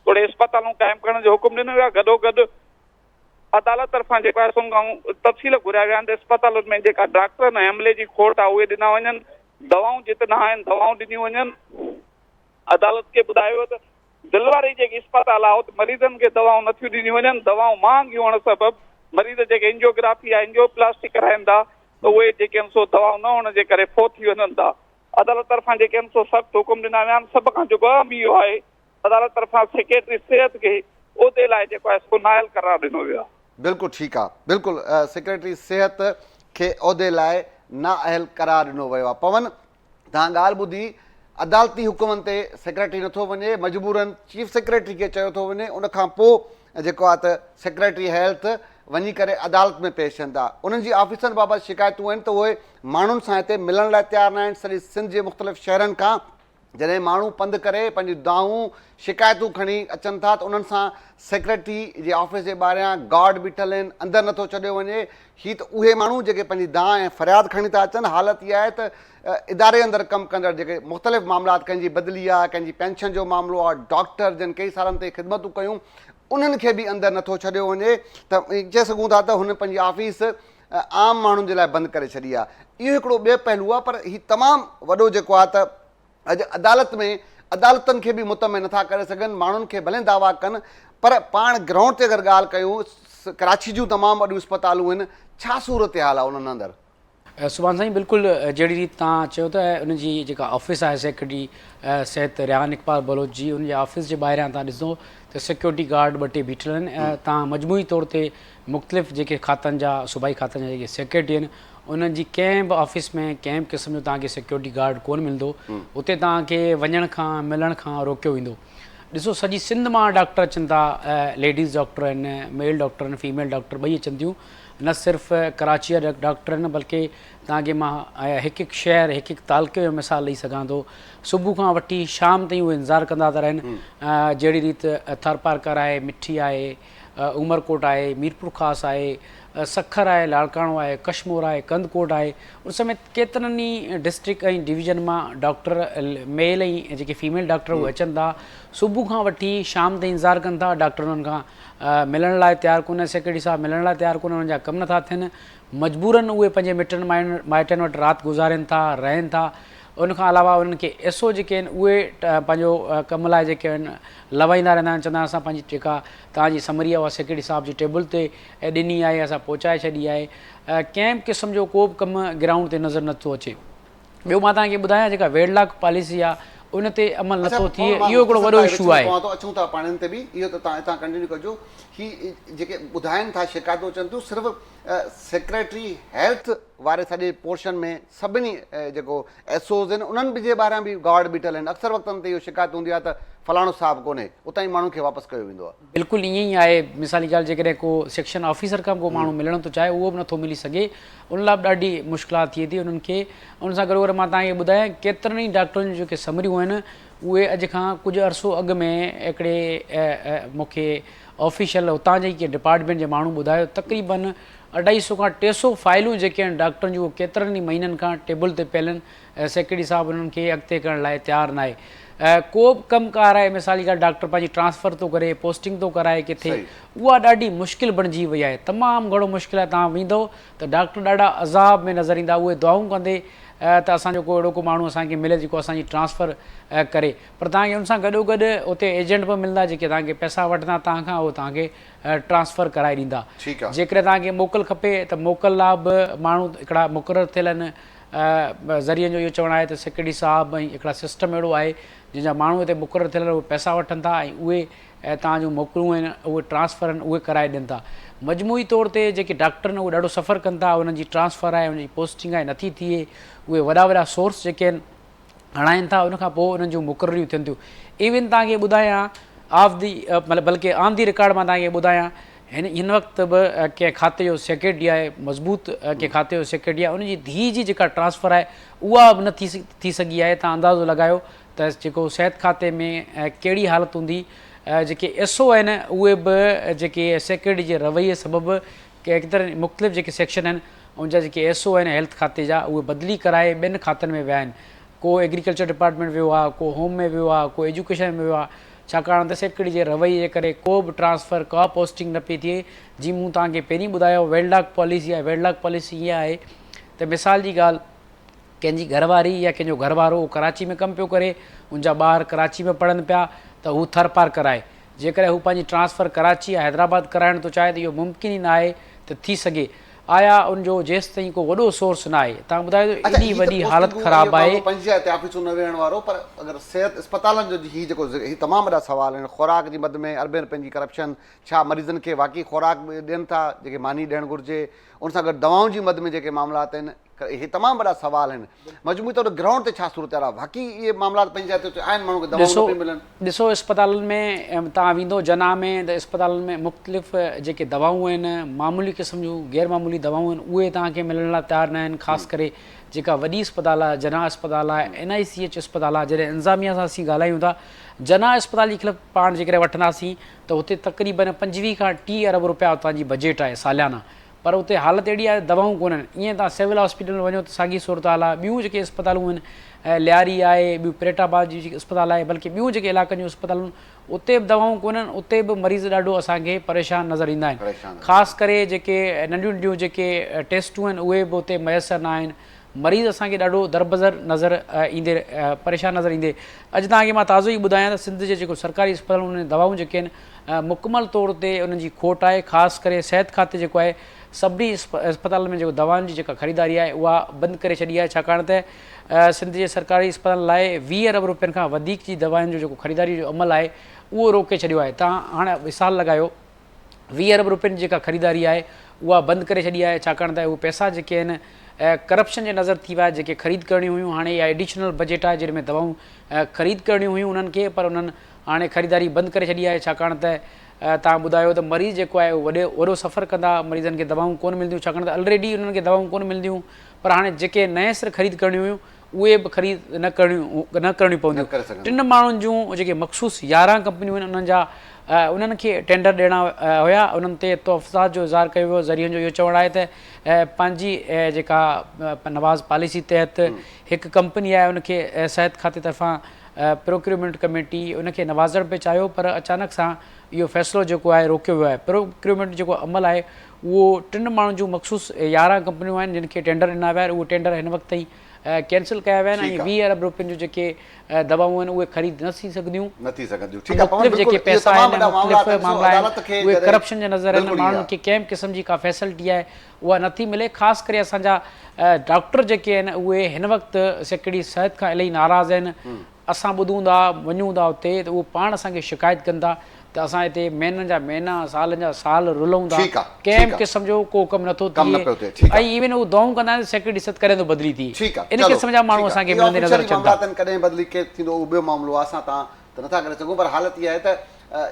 توڙي اسپتالون قائم ڪرڻ جو حڪم ڏنو ويو آهي، گڏوگڏ عدالت طرفان جيڪو آهي سون کان تفصيل گهريا ويا آهن ته اسپتالن ۾ جيڪا ڊاڪٽرن ۽ عملي جي کوٽ آهي اهي ڏنا وڃن، دوائون جت نه آهن دوائون ڏنيون وڃن، عدالت کي ٻڌايو ويو ته دل واري جيڪي اسپتال آهي اتي مريضن کي دوائون نٿيون ڏنيون وڃن، دوائون مهانگيون هئڻ سبب مريض جيڪي اينجيوگرافي يا اينجيوپلاسٽي ڪرائين ٿا ته اهي جيڪي آهن سو دوائون نه هئڻ جي ڪري فوت ٿي وڃن ٿا. عدالت طرفان جيڪي آهن سو سخت حڪم ڏنا ويا آهن، سڀ کان جيڪو اهم اهو آهي ته عدالت طرفان سيڪريٽري صحت کي عهدي لاء جيڪو آهي سو نااهل قرار ڏنو ويو آهي. بلڪل ٺيڪ آهي بلڪل سيڪريٽري صحت کي عهدي لاء نااهل قرار ڏنو ويو آهي پون تان ڳالهه ٻڌي عدالتي حڪمن تي سيڪريٽري نٿو وڃي مجبورا چيف سيڪريٽري کي چيو ٿو وڃي ان کان پوء جيڪو آهي ته سيڪريٽري هيلٿ وڃي ڪري عدالت ۾ پيش ٿين ٿا انهن جي آفيسن بابت شڪايتون آهن ته اهي ماڻهن سان هتي ملڻ لاء تيار ناهن سڄي سنڌ جي مختلف شهرن کان جڏهن ماڻهو پنڌ ڪري پنهنجون دانهون شڪايتون کڻي اچن ٿا ته انهن سان سيڪريٽري جي آفيس جي ٻاهريان گارڊ بيٺل آهن اندر نٿو ڇڏيو وڃي هي ته اهي ماڻهو جيڪي پنهنجي دانهن ۽ فرياد کڻي ٿا اچن، حالت اها آهي ته اداري اندر ڪم ڪندڙ جيڪي مختلف معاملات ڪنهن جي بدلي آهي، ڪنهن جي پينشن جو معاملو آهي، ڊاڪٽر جن ڪيئي سالن تائين خدمتون ڪيون انهن کي به اندر نٿو ڇڏيو وڃي ته چئي سگهون ٿا ته هن پنهنجي آفيس عام ماڻهن جي لاء بند ڪري ڇڏي آهي. اهو هڪڙو ٻيو پهلو آهي پر هي تمام وڏو جيڪو آهي ته اڄ عدالت ۾ عدالتن کي به مطمع نٿا ڪري سگهن، ماڻهن کي ڀلين دعويٰ ڪن پر پاڻ گرائونڊ تي اگر ڳالهه ڪيون ڪراچي جون تمام وڏيون اسپتالون هن ڇا صورتحال آهي انهن اندر. سبحان سائين بلڪل جهڙي ريت توهان چيو ته ان جي جيڪا آفيس آهي سيڪريٽري صحت ريحان اقبال بلوچ جي ان جي آفيس جي ٻاهريان توهان ڏسندو ته سيڪيورٽي گارڊ ٻه ٽي بيٺل آهن توهان مجموعي طور تي مختلف جيڪي کاتن جا صوبائي کاتن جا جيڪي سيڪريٽري آهن انهن جي ڪنهن به آفيس ۾ ڪنهن به قسم جو توهان کي سيڪيورٽي گارڊ ڪونه ملندو اتي توهان کي وڃڻ کان ملڻ کان روڪيو ويندو ڏسو سڄي سنڌ مان ڊاڪٽر اچن ٿا ليڊيز ڊاڪٽر آهن ميل ڊاڪٽر آهن فيميل ڊاڪٽر ٻئي اچن ٿيون نه صرف ڪراچي جا ڊاڪٽر آهن بلڪه توهان کي مان هڪ هڪ شهر هڪ هڪ تعلقي جو مثال ڏئي سگهان ٿو صبح کان وٺي شام تائين اهو انتظار ڪندا ٿا رهن جهڙي ريت ٿر پارڪر آهي مٺي آهي عمرڪوٽ آهي، ميرپورخاص آهي، سکر آهي، لاڙڪاڻو آهي، ڪشمور آهي، ڪنڌڪوٽ آهي، ان سميت ڪيترن ئي ڊسٽرڪٽ ۽ ڊويزن مان ڊاڪٽر ميل ۽ جيڪي فيميل ڊاڪٽر اهي اچن ٿا، صبح کان وٺي شام تائين انتظار ڪن ٿا، ڊاڪٽر انهن کان ملڻ لاء تيار ڪونهي، سيڪريٽري صاحب ملڻ لاء تيار ڪونهي، انهن جا ڪم نٿا ٿين، مجبورن اهي پنهنجي مٽن مائٽن وٽ رات گذارين ٿا، رهن ٿا. ان کان علاوه انهن کي ايس او جيڪي آهن اهي پنهنجو ڪم لاء جيڪي آهن لوائيندا رهندا آهن چوندا آهن اسان پنهنجي جيڪا توهان جي سمري آهي اها سيڪريٽري صاحب جي ٽيبل تي ڏني آهي اسان پهچائي ڇڏي آهي ڪنهن به قسم جو ڪو به ڪم گرائونڊ تي نظر نٿو اچي ٻيو مان توهان کي ٻڌايان جيڪا ويڊلاڪ پاليسي آهي ان تي عمل نٿو ٿئي اهو هڪڙو وڏو اشو آهي. پوان ٿو اچون ٿا پاڻين تي به اهو ته توهان اتان ڪنٽينيو ڪجو هي جيڪي ٻڌائن ٿا شڪايتون اچن ٿيون صرف سيڪريٽري هيلٿ واري سڄي پورشن ۾ سڀني جيڪو ايس اوز آهن انهن به جي ٻاهران به گارڊ بيٺل آهن اڪثر وقتن تي اهو شڪايت هوندي آهي ته فلاڻو صاحب ڪونهي اتان ئي ماڻهن کي واپس ڪيو ويندو آهي. بلڪل ائين ئي آهي مثال جي ڳالهه جيڪڏهن ڪو سيڪشن آفيسر کان به ڪو ماڻهو ملڻ ٿو چاهي اهو به نٿو ملي سگهي ان لاء به ڏاڍي مشڪلات ٿئي ٿي انهن کي ان سان گڏوگڏ مان تهان کي ٻڌايان ڪيترن ئي ڊاڪٽرن جون جيڪي سمريون آهن اهي اڄ کان ڪجهه عرصو اڳ ۾ هڪڙي مون کي آفيشل هتان جي ڪنهن ڊپارٽمينٽ جي ماڻهو ٻڌايو تقريبن اڍائي سئو کان ٽي سئو فائلون جيڪي آهن ڊاڪٽرن جون اهي ڪيترن ئي مهينن کان ٽيبل تي پيل آهن ۽ سيڪريٽري صاحب انهن کي اڳتي ڪرڻ لاء تيار ناهي ڪو به ڪم ڪار آهي مثال جي ڳالهه ڊاڪٽر پنهنجي ٽرانسفر ٿو ڪري پوسٽنگ ٿو ڪرائي ڪٿي اها ڏاڍي مشڪل بڻجي وئي آهي تمام گهڻو مشڪل آهي توهان ويندو ته ڊاڪٽر ڏاڍا عذاب ۾ نظر ايندا اهي دعائون ڪندي ته اسان جو ڪو اهڙو ڪو ماڻهو اسان کي ملي جيڪو اسان جي ٽرانسفر ڪري پر توهان کي ان سان گڏو گڏ اتي ايجنٽ به ملندا جيڪي توهان کي پئسا وٺندا توهان کان اهو توهان کي ٽرانسفر ڪرائي ڏيندا جيڪڏهن توهان کي موڪل کپي ته موڪل لا به ماڻهو هڪڙا مقرر ٿيل آهن ذريعن جو اهو چوڻ آهي ته سيڪريٽري صاحب ۽ هڪڙا سسٽم اهڙو آهي جن جا ماڻهو هتي مقرر ٿيل آهن اهي پئسا وٺن ٿا ۽ اهي توهان جون موڪلون آهن اهي ٽرانسفر آهن اهي ڪرائي ڏين ٿا مجموعي طور تي جيڪي ڊاڪٽر آهن اهي ڏاڍو سفر ڪن ٿا انهن جي ٽرانسفر آهي انهن جي پوسٽنگ آهي نٿي ٿئي اهي وڏا وڏا سورس جيڪي آهن اڻائين ٿا ان کان پوء انهن جون مقرريون ٿين ٿيون ايون توهان کي ٻڌايان آف دي مطلب بلڪه آن دي رڪارڊ مان توهان کي ٻڌايان هن هن وقت به ڪنهن کاتي جو سيڪريٽري آهي مضبوط ڪنهن کاتي جو سيڪريٽري آهي ان جي ڌيء جي جيڪا ٽرانسفر آهي اها به نه ٿي ٿي سگهي آهي توهان اندازو لڳايو ته جيڪو صحت کاتي ۾ ڪهڙي حالت هوندي جيڪي ايس او آهن اهي به جيڪي سيڪريٽري جي رويي سبب ڪي اڪثر مختلف جيڪي سيڪشن آهن ان جا جيڪي ايس او آهن هيلٿ کاتي جا اهي بدلي ڪرائي ٻين کاتن ۾ ويا آهن ڪو ايگريڪلچر ڊپارٽمينٽ ويو آهي ڪو هوم ۾ ويو آهي ڪو ايجوڪيشن ۾ ويو آهي ڇاڪاڻ ته سيڪريٽري جي رويي جي ڪري ڪو به ٽرانسفر ڪا پوسٽنگ نه پئي ٿئي جيئن مون توهان کي پهرين ٻڌايو ويل ڊاڪ پاليسي آهي ويل ڊاڪ پاليسي اها آهي ته مثال جي ڳالهه ڪنهن جي گهر واري يا ڪنهن جو گهر وارو اهو ڪراچي ۾ ڪم پيو ڪري، ان جا ٻار ڪراچي ۾ پڙهن پيا ته هو ٿر پارڪر آهي. جيڪڏهن هو پنهنجي ٽرانسفر ڪراچي يا حيدرآباد ڪرائڻ ٿو چاهي ته اهو ممڪن ئي نه آهي ته ٿي سگهي. آيا ان جو جيستائين ڪو وڏو سورس نه آهي. تان ٻڌايو ته اچا ايڏي هي ته وڏي حالت پوسٽنگون ۽ خراب اهي آهي. ماڻهو پنهنجي جاء تي آفيسون نه ويهڻ وارو پر اگر صحت اسپتالن جو هي جيڪو ذڪر هي تمام وڏا سوال آهن خوراڪ جي مد ۾ اربين رپين جي ڪرپشن ڇا مريضن کي واقعي خوراڪ ڏين ٿا جيڪي ماني ڏيڻ گهرجي ان سان گڏ دوائن جي مد ۾ جيڪي معاملات آهن اهي تمام وڏا سوال آهن مجموعي طور تي گرائونڊ تي ڇا صورتحال آهي واقعي اهي معاملات پنهنجي جاء تي آهن ماڻهن کي دوائون نه پيون ملن. ڏسو اسپتالن ۾ توهان ويندو جناح ۾ ته اسپتالن ۾ مختلف جيڪي دوائون آهن معمولي قسم جون غير معمولي دوائون آهن اهي توهان کي ملڻ لاء تيار نه آهن خاص ڪري جيڪا وڏي اسپتال آهي جناح اسپتال آهي اين آء سي ايڇ اسپتال آهي جڏهن انتظاميه سان اسين ڳالهايون ٿا جناح اسپتال جي خلف پاڻ جيڪڏهن وٺنداسين ته اتي تقريبن پنجويهه کان ٽيهه ارب روپيا اتان جي بجيٽ آهي ساليانه پر اتي حالت اهڙي آهي ته دواون ڪونهن ايئن توهان سول هاسپيٽل ۾ وڃو ته ساڳي صورتحال آهي ٻيون جيڪي اسپتالون آهن لياري آهي ٻيون پريٽ آباد جي جيڪي اسپتال آهي بلڪه ٻيون جيڪي علائقن جون اسپتالون اتي به دواون ڪونهن اتي به مريض ڏاڍو اسان کي پريشان نظر ايندا آهن خاص ڪري جيڪي ننڍيون ننڍيون جيڪي ٽيسٽون آهن اهي به اتي ميسر ناهن مريض اسان کي ڏاڍو دربدر نظر ايندي پريشان نظر ايندي اڄ توهان کي مان تازو ئي ٻڌايان ته سنڌ جي جيڪو سرڪاري اسپتالون انهن جون دوائون جيڪي آهن مڪمل طور تي انهن جي کوٽ آهي خاص ڪري صحت کاتي جيڪو آهي سڀني اسپتالن ۾ جيڪو دوائن جي جيڪا خريداري آهي اها بند ڪري ڇڏي آهي ڇاڪاڻ ته سنڌ جي سرڪاري اسپتالن لاء ويهه ارب روپين کان وڌيڪ جي دوائن جو جيڪو خريداري جو عمل آهي اهو روڪي ڇڏيو آهي تان هاڻ وسال لڳايو ويهه ارب روپين جي جيڪا خريداري آهي اها بند ڪري ڇڏي آهي ڇاڪاڻ ته اهي پئسا جيڪي آهن ڪرپشن جي نظر ٿي ويا آهي جيڪي خريد ڪرڻيون هيون هاڻي اها ايڊيشنل بجيٽ آهي جن ۾ دوائون خريد ڪرڻيون هيون انهن کي پر انهن هاڻي خريداري بند ڪري ڇڏي آهي ڇاڪاڻ ته توهان ٻڌايو ته مريض جيڪو آهي اهو وڏي وڏو سفر ڪندا مريضن کي دوائون ڪون ملنديون ڇاڪاڻ ته الريڊي انهن کي دوائون ڪون ملنديون پر هاڻي جيڪي نئين سر خريد ڪرڻيون هيون اهي به خريد نه ڪرڻيون پونديون ٽن ماڻهن جون جيڪي مخصوص يارهن ڪمپنيون آهن انهن جا انهن کي ٽينڊر ڏيڻا هيا انهن تي تحفظات جو اظهار ڪيو ويو ذريعن جو اهو چوڻ آهي ته پنهنجي جيڪا نواز پاليسي تحت هڪ ڪمپني آهي ان کي صحت کاتي طرفان پروڪيورمينٽ ڪميٽي ان کي نوازڻ پئي چاهيو پر اچانڪ سان اهو فيصلو جيڪو آهي روڪيو ويو آهي پروڪيورمينٽ جيڪو عمل آهي اهو ٽن ماڻهن جون مخصوص يارهن ڪمپنيون آهن جن کي ٽينڊر ڏنا ويا آهن اهي ٽينڊر هن وقت تائين ڪينسل ڪيا ويا آهن ۽ ويهه ارب روپين جون جيڪي دوائون آهن اهي خريد نه ٿي سگهنديون ۽ مختلف جيڪي پئسا آهن ۽ مختلف معاملا آهن اهي ڪرپشن جا نظر آهن ماڻهن کي ڪنهن به قسم جي ڪا فيسلٽي آهي اها نه ٿي ملي خاص ڪري اسان جا ڊاڪٽر جيڪي آهن اهي هن وقت سيڪڙي صحت کان الائي ناراض آهن اسان ٻڌون ٿا، وڃون ٿا اتي ته اهو پاڻ اسان کي شڪايت ڪن ٿا ته اسان هتي مهينن جا مهينا، سالن جا سال رلون ٿا، ڪنهن به قسم جو ڪو ڪم نٿو ٿئي ۽ ايون اهو دعائون ڪندا آهن ته سيڪريٽري صد ڪڏهن ٿو بدلي ٿئي. ان قسم جا ماڻهو اسان کي ملندي نظر اچن ٿا. ڪڏهن بدلي ڪير ٿيندو اهو ٻيو معاملو آهي، اسان تان ته نٿا ڪري سگهون پر حالت اها آهي ته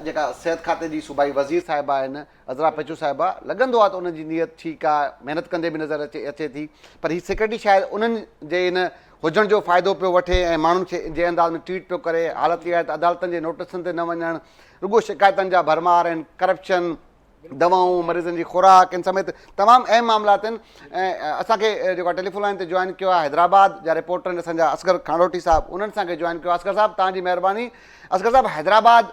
جيڪا صحت کاتي جي صوبائي وزير صاحبه آهن، عذرا پچو صاحبه، لڳندو آهي ته انهن جي نيت ٺيڪ آ، محنت ڪندي به نظر اچي ٿي، پر هي سيڪريٽري شايد انهن جي ان هجڻ جو فائدو پيو وٺي ۽ ماڻهن کي جنهن انداز ۾ ٽريٽ پيو ڪري، حالت اها آهي ته عدالتن جي نوٽيسن تي نه وڃڻ، رڳو شڪايتن جا ڀرمار آهن، ڪرپشن، دوائون، مريضن جي خوراڪ ان سميت تمام اهم معاملا آهن، اسان کي جيڪو آهي ٽيليفون لائين تي جوائن ڪيو آهي حيدرآباد جا رپورٽر آهن اسان جا اصغر کانڙوٽي صاحب انهن اسان کي جوائن ڪيو آهي، اصغر صاحب توهان جي مهرباني، اصغر صاحب حيدرآباد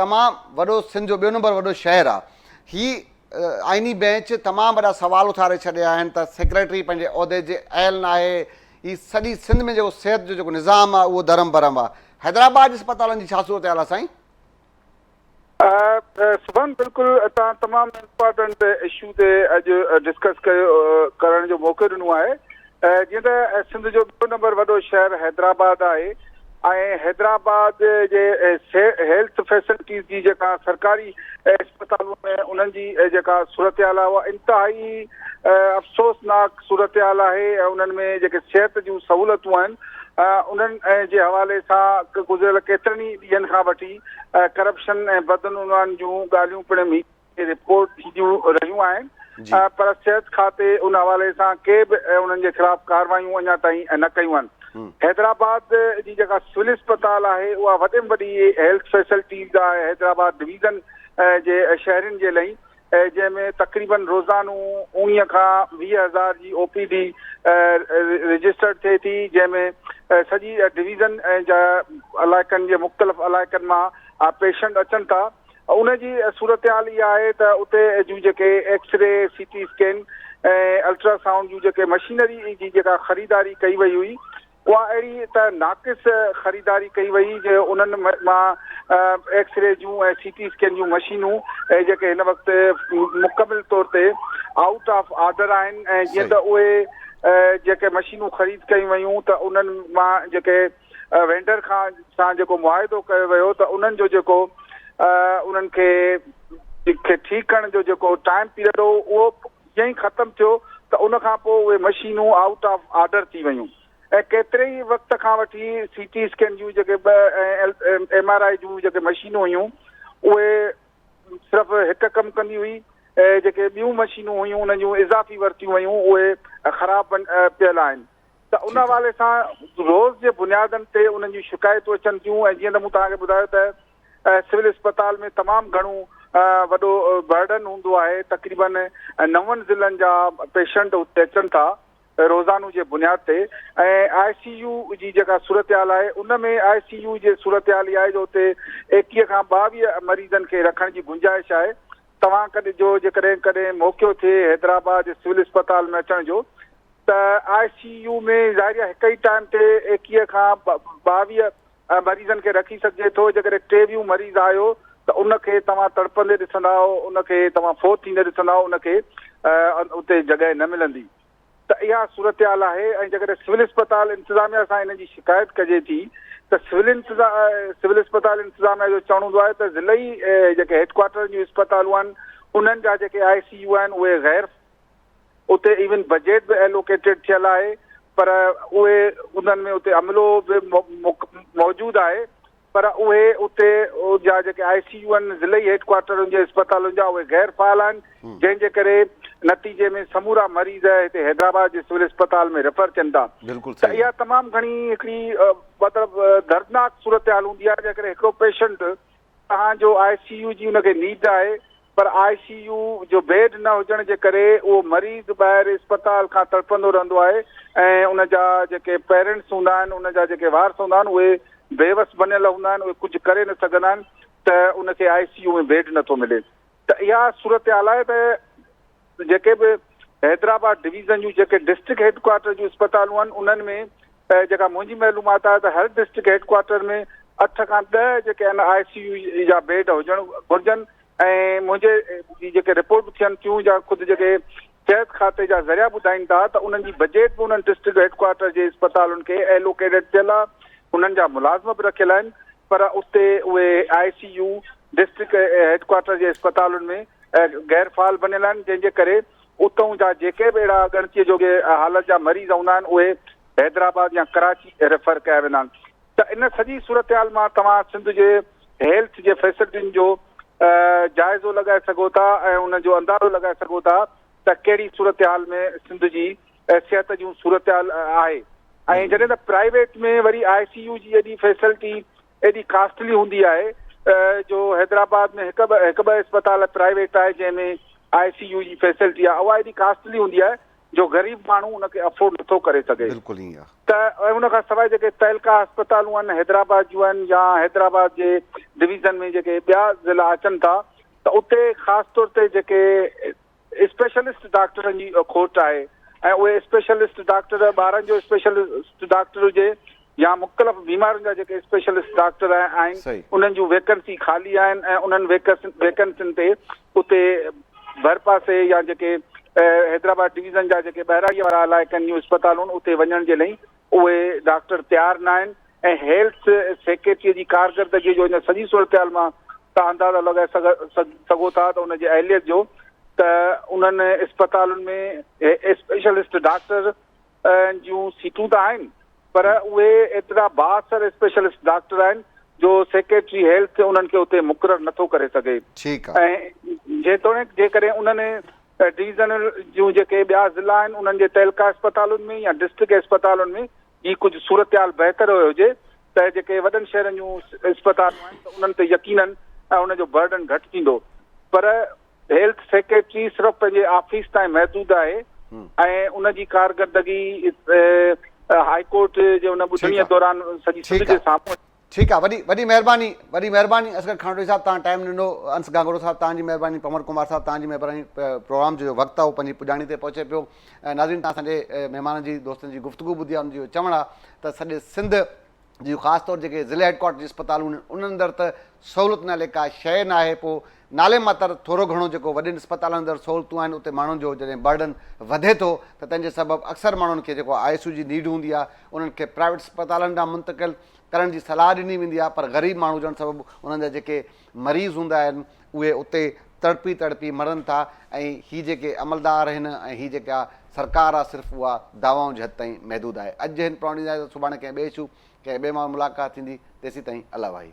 تمام وڏو سنڌ جو ٻيو نمبر وڏو شهر آ هي آئيني بينچ تمام وڏا سوال اٿاري ڇڏيا آهن ته سيڪريٽري پنهنجي عهدي جي اهل ناهي هي سڄي سنڌ ۾ جيڪو صحت جو جيڪو نظام آ اهو درم برم آ حيدرآباد جي اسپتالن جي ڇا صورتحال آ سائين. سبحان بلڪل توهان تمام امپارٽنٽ اشو تي اڄ ڊسڪس ڪرڻ جو موقعو ڏنو آهي. جيئن ته سنڌ جو ٻيو نمبر وڏو شهر حيدرآباد آهي ۽ حيدرآباد جي هيلٿ فيسلٽيز جي جيڪا سرڪاري اسپتالون آهن انهن جي جيڪا صورتحال آهي اها انتهائي افسوسناڪ صورتحال آهي ۽ انهن ۾ جيڪي صحت جون سهولتون آهن انهن جي حوالي سان گذريل ڪيترن ئي ڏينهن کان وٺي ڪرپشن ۽ بدعنوان جون ڳالهيون پڻ رپورٽ ٿينديون رهيون آهن پر صحت کاتي ان حوالي سان ڪي به انهن جي خلاف ڪارروايون اڃا تائين نه ڪيون آهن حيدرآباد جي جيڪا سول اسپتال آهي اها وڏي ۾ وڏي هيلٿ فيسلٽيز آهي حيدرآباد ڊويزن جي شهرين جي لئي جنهن ۾ تقريبن روزانو اوڻيهه کان ويهه هزار جي او پي ڊي رجسٽرڊ ٿئي ٿي جنهن ۾ سڄي ڊويزن جا علائقن جي مختلف علائقن مان پيشنٽ اچن ٿا ان جي صورتحال اها آهي ته اتي جون جيڪي X ray, C T scan ۽ ultrasound جون جيڪي مشينري جي جيڪا خريداري ڪئي وئي هئي اها اهڙي ته ناقص خريداري ڪئي وئي جو انهن مان ايڪس ري جون ۽ سي ٽي اسڪين جون مشينون جيڪي هن وقت مڪمل طور تي آئوٽ آف آرڊر آهن ۽ جيئن ته اهي جيڪي مشينون خريد ڪيون ويون ته انهن مان جيڪي وينڊر کان سان جيڪو معاهدو ڪيو ويو ته انهن جو جيڪو انهن کي کي ٺيڪ ڪرڻ جو جيڪو ٽائيم پيريڊ هو اهو جئين ئي ختم ٿيو ته ان کان پوء اهي مشينون آئوٽ آف آرڊر ٿي ويون ۽ ڪيتري ئي وقت کان وٺي سي ٽي اسڪين جون جيڪي ٻه ايم آر آئي جون جيڪي مشينون هيون اهي صرف هڪ ڪم ڪندي هئي جيڪي ٻيون مشينون هيون انهن جون اضافي ورتيون ويون اهي خراب پيل آهن ته ان حوالي سان روز جي بنيادن تي انهن جون شڪايتون اچن ٿيون ۽ جيئن ته مون توهان کي ٻڌايو ته سول اسپتال ۾ تمام گهڻو وڏو برڊن هوندو آهي تقريبن نون ضلعن جا پيشنٽ اتي اچن ٿا روزانو جي بنياد تي ۽ آء سي يو جي جيڪا صورتحال آهي ان ۾ آء سي يو جي صورتحال اها آهي جو اتي ايڪيهه کان ٻاويهه مريضن کي رکڻ جي گنجائش آهي توهان ڪڏهن جو جيڪڏهن ڪڏهن موقعو ٿئي حيدرآباد سول اسپتال ۾ اچڻ جو ته آء سي يو ۾ ظاهريا هڪ ئي ٽائيم تي ايڪيهه کان ٻاويهه مريضن کي رکي سگهجي ٿو، جيڪڏهن ٽيويهون مريض آيو ته ان کي توهان تڙپندي ڏسندا، ان کي توهان فوت ٿيندي ڏسندا، ان کي اتي جڳهه نه ملندي ته اها صورتحال آهي ۽ جيڪڏهن سول اسپتال انتظاميا سان ان جي شڪايت ڪجي ٿي ته سول سول اسپتال انتظاميا جو چوڻ هوندو آهي ته ضلعي جيڪي هيڊ ڪوارٽرن جون اسپتالون آهن انهن جا جيڪي آء سي يو آهن اهي غير اتي ايون بجيٽ به ايلوڪيٽيڊ ٿيل آهي پر اهي انهن ۾ اتي عملو به موجود آهي پر اهي اتي جا جيڪي آء سي يو آهن ضلعي هيڊ ڪوارٽرن جي اسپتالن جا اهي غير فعال آهن جنهن جي ڪري نتيجي ۾ سمورا مريض هتي حيدرآباد جي سول اسپتال ۾ ريفر ٿين ٿا ته اها تمام گهڻي هڪڙي مطلب دردناڪ صورتحال هوندي آهي جيڪڏهن هڪڙو پيشنٽ توهان جو آء سي يو جي ان کي نيڊ آهي پر آء سي يو جو بيڊ نه هجڻ جي ڪري اهو مريض ٻاهر اسپتال کان تڙپندو رهندو آهي ۽ ان جا جيڪي پيرنٽس هوندا آهن ان جا جيڪي وارث هوندا آهن اهي بيوس بنيل هوندا آهن اهي ڪجهه ڪري نه سگهندا آهن ته ان کي آء سي يو ۾ بيڊ نٿو ملي ته اها صورتحال آهي ته جيڪي به حيدرآباد ڊويزن جون جيڪي ڊسٽرڪٽ هيڊ ڪوارٽر جون اسپتالون آهن انهن ۾ جيڪا منهنجي معلومات آهي ته هر ڊسٽرڪٽ هيڊ ڪوارٽر ۾ اٺ کان ڏهه جيڪي آهن آء سي يو جا بيڊ هجڻ گهرجن ۽ منهنجي جي جيڪي رپورٽ ٿين ٿيون جا خود جيڪي صحت کاتي جا ذريعا ٻڌائين ٿا ته انهن جي بجيٽ به انهن ڊسٽرڪٽ هيڊ ڪوارٽر جي اسپتالن کي ايلوڪيٽيڊ ٿيل آهي انهن جا ملازم به رکيل آهن پر اتي اهي I C U district headquarter جي اسپتالن ۾ غير فعال بنيل آهن جنهن جي ڪري اتئون جا جيڪي به اهڙا ڳڻتي جوڳي حالت جا مريض هوندا آهن اهي حيدرآباد يا ڪراچي ريفر ڪيا ويندا آهن ته ان سڄي صورتحال مان توهان سنڌ جي هيلٿ جي فيسلٽين جو جائزو لڳائي سگهو ٿا ۽ ان جو اندازو لڳائي سگهو ٿا ته ڪهڙي صورتحال ۾ سنڌ جي صحت جون صورتحال آهي ۽ جڏهن ته پرائيويٽ ۾ وري آء سي يو جي ايڏي فيسلٽي ايڏي ڪاسٽلي هوندي آهي جو حيدرآباد ۾ هڪ ٻه هڪ ٻه اسپتال پرائيويٽ آهي جنهن ۾ آء سي يو جي فيسلٽي آهي اها ايڏي ڪاسٽلي هوندي آهي جو غريب ماڻهو ان کي افورڊ نٿو ڪري سگهي بلڪل ائين آهي ته ان کان سواء جيڪي تعلقه اسپتالون آهن حيدرآباد جون آهن يا حيدرآباد جي ڊويزن ۾ جيڪي ٻيا ضلع اچن ٿا ته اتي خاص طور تي جيڪي اسپيشلسٽ ڊاڪٽرن جي کوٽ آهي ۽ اهي اسپيشلسٽ ڊاڪٽر ٻارن جو اسپيشلسٽ ڊاڪٽر هجي يا مختلف بيمارين جا جيڪي اسپيشلسٽ ڊاڪٽر آهن انهن جون ويڪنسي خالي آهن ۽ انهن ويڪنسين تي اتي ڀرپاسي يا جيڪي حيدرآباد ڊويزن جا جيڪي ٻهراڙيء وارا علائقن جون اسپتالون اتي وڃڻ جي لئي اهي ڊاڪٽر تيار ناهن ۽ هيلٿ سيڪريٽريء جي ڪارڪردگيء جو هن سڄي صورتحال مان توهان اندازو لڳائي سگهو ٿا ته ان جي اهليت جو ته انهن اسپتالن ۾ اسپيشلسٽ ڊاڪٽر جون سيٽون ته آهن پر اهي ايترا بااثر اسپيشلسٽ ڊاڪٽر آهن جو سيڪريٽري هيلٿ انهن کي اتي مقرر نٿو ڪري سگهي ۽ جيتوڻيڪ جيڪڏهن انهن ڊويزن جون جيڪي ٻيا ضلعا آهن انهن جي تعلقه اسپتالن ۾ يا ڊسٽرڪٽ اسپتالن ۾ هي ڪجهه صورتحال بهتر هجي ته جيڪي وڏن شهرن جون اسپتالون آهن ته انهن تي يقينن ان جو برڊن گهٽ ٿيندو پر هيلٿ سيڪريٽري صرف پنهنجي آفيس تائين محدود آهي ۽ ان جي ڪارڪردگي هاء ڪورٽ جي ان ٻڌڻي دوران سڄي سنڌ جي سامهون ٺيڪ آ وڏي وڏي مهرباني وڏي مهرباني اصغر کانوٽي صاحب تهان ٽائيم ڏنو انس گانگوڙو صاحب تهان جي مهرباني پنور ڪمار صاحب تهان جي مهرباني پروگرام جو وقت آ اهو پنهنجي پڄاڻي تي پهچي پيو ناظرين تهان اسانجي مهمان جي دوستن جي گفتگو ٻڌي آ ان جو چوڻ آ ته سڄي سنڌ جي خاص طور جيڪي ضلع هيڊ ڪوارٽر جي اسپتالون آهن انهن اندر ته سهولت نالي ڪا شيء ناهي پو نالي ماتر ٿورو گهڻو جيڪو وڏين اسپتالن اندر سهولتون آهن اتي ماڻهن جو جڏهن برڊن وڌي ٿو ته تنهن جي سبب اڪثر ماڻهن کي جيڪو آء ايس يو جي نيڊ هوندي آ انهن کي پرائيويٽ اسپتالن ڏانهن منتقل ڪرڻ جي صلاح ڏني ويندي آهي پر غريب ماڻهو هجڻ سبب انهن جا جيڪي مريض هوندا آهن اهي اتي تڙپي تڙپي مرن ٿا ۽ هي جيڪي عملدار آهن ۽ هي جيڪا سرڪار آهي صرف اها دعوائن جي حد تائين محدود آهي. اڄ جي هن پروگرام جي اجازت سڀاڻي ڪنهن ٻئي اشو ڪنهن ٻئي ماڻهو ملاقات ٿيندي تيسين تائين الله واهي.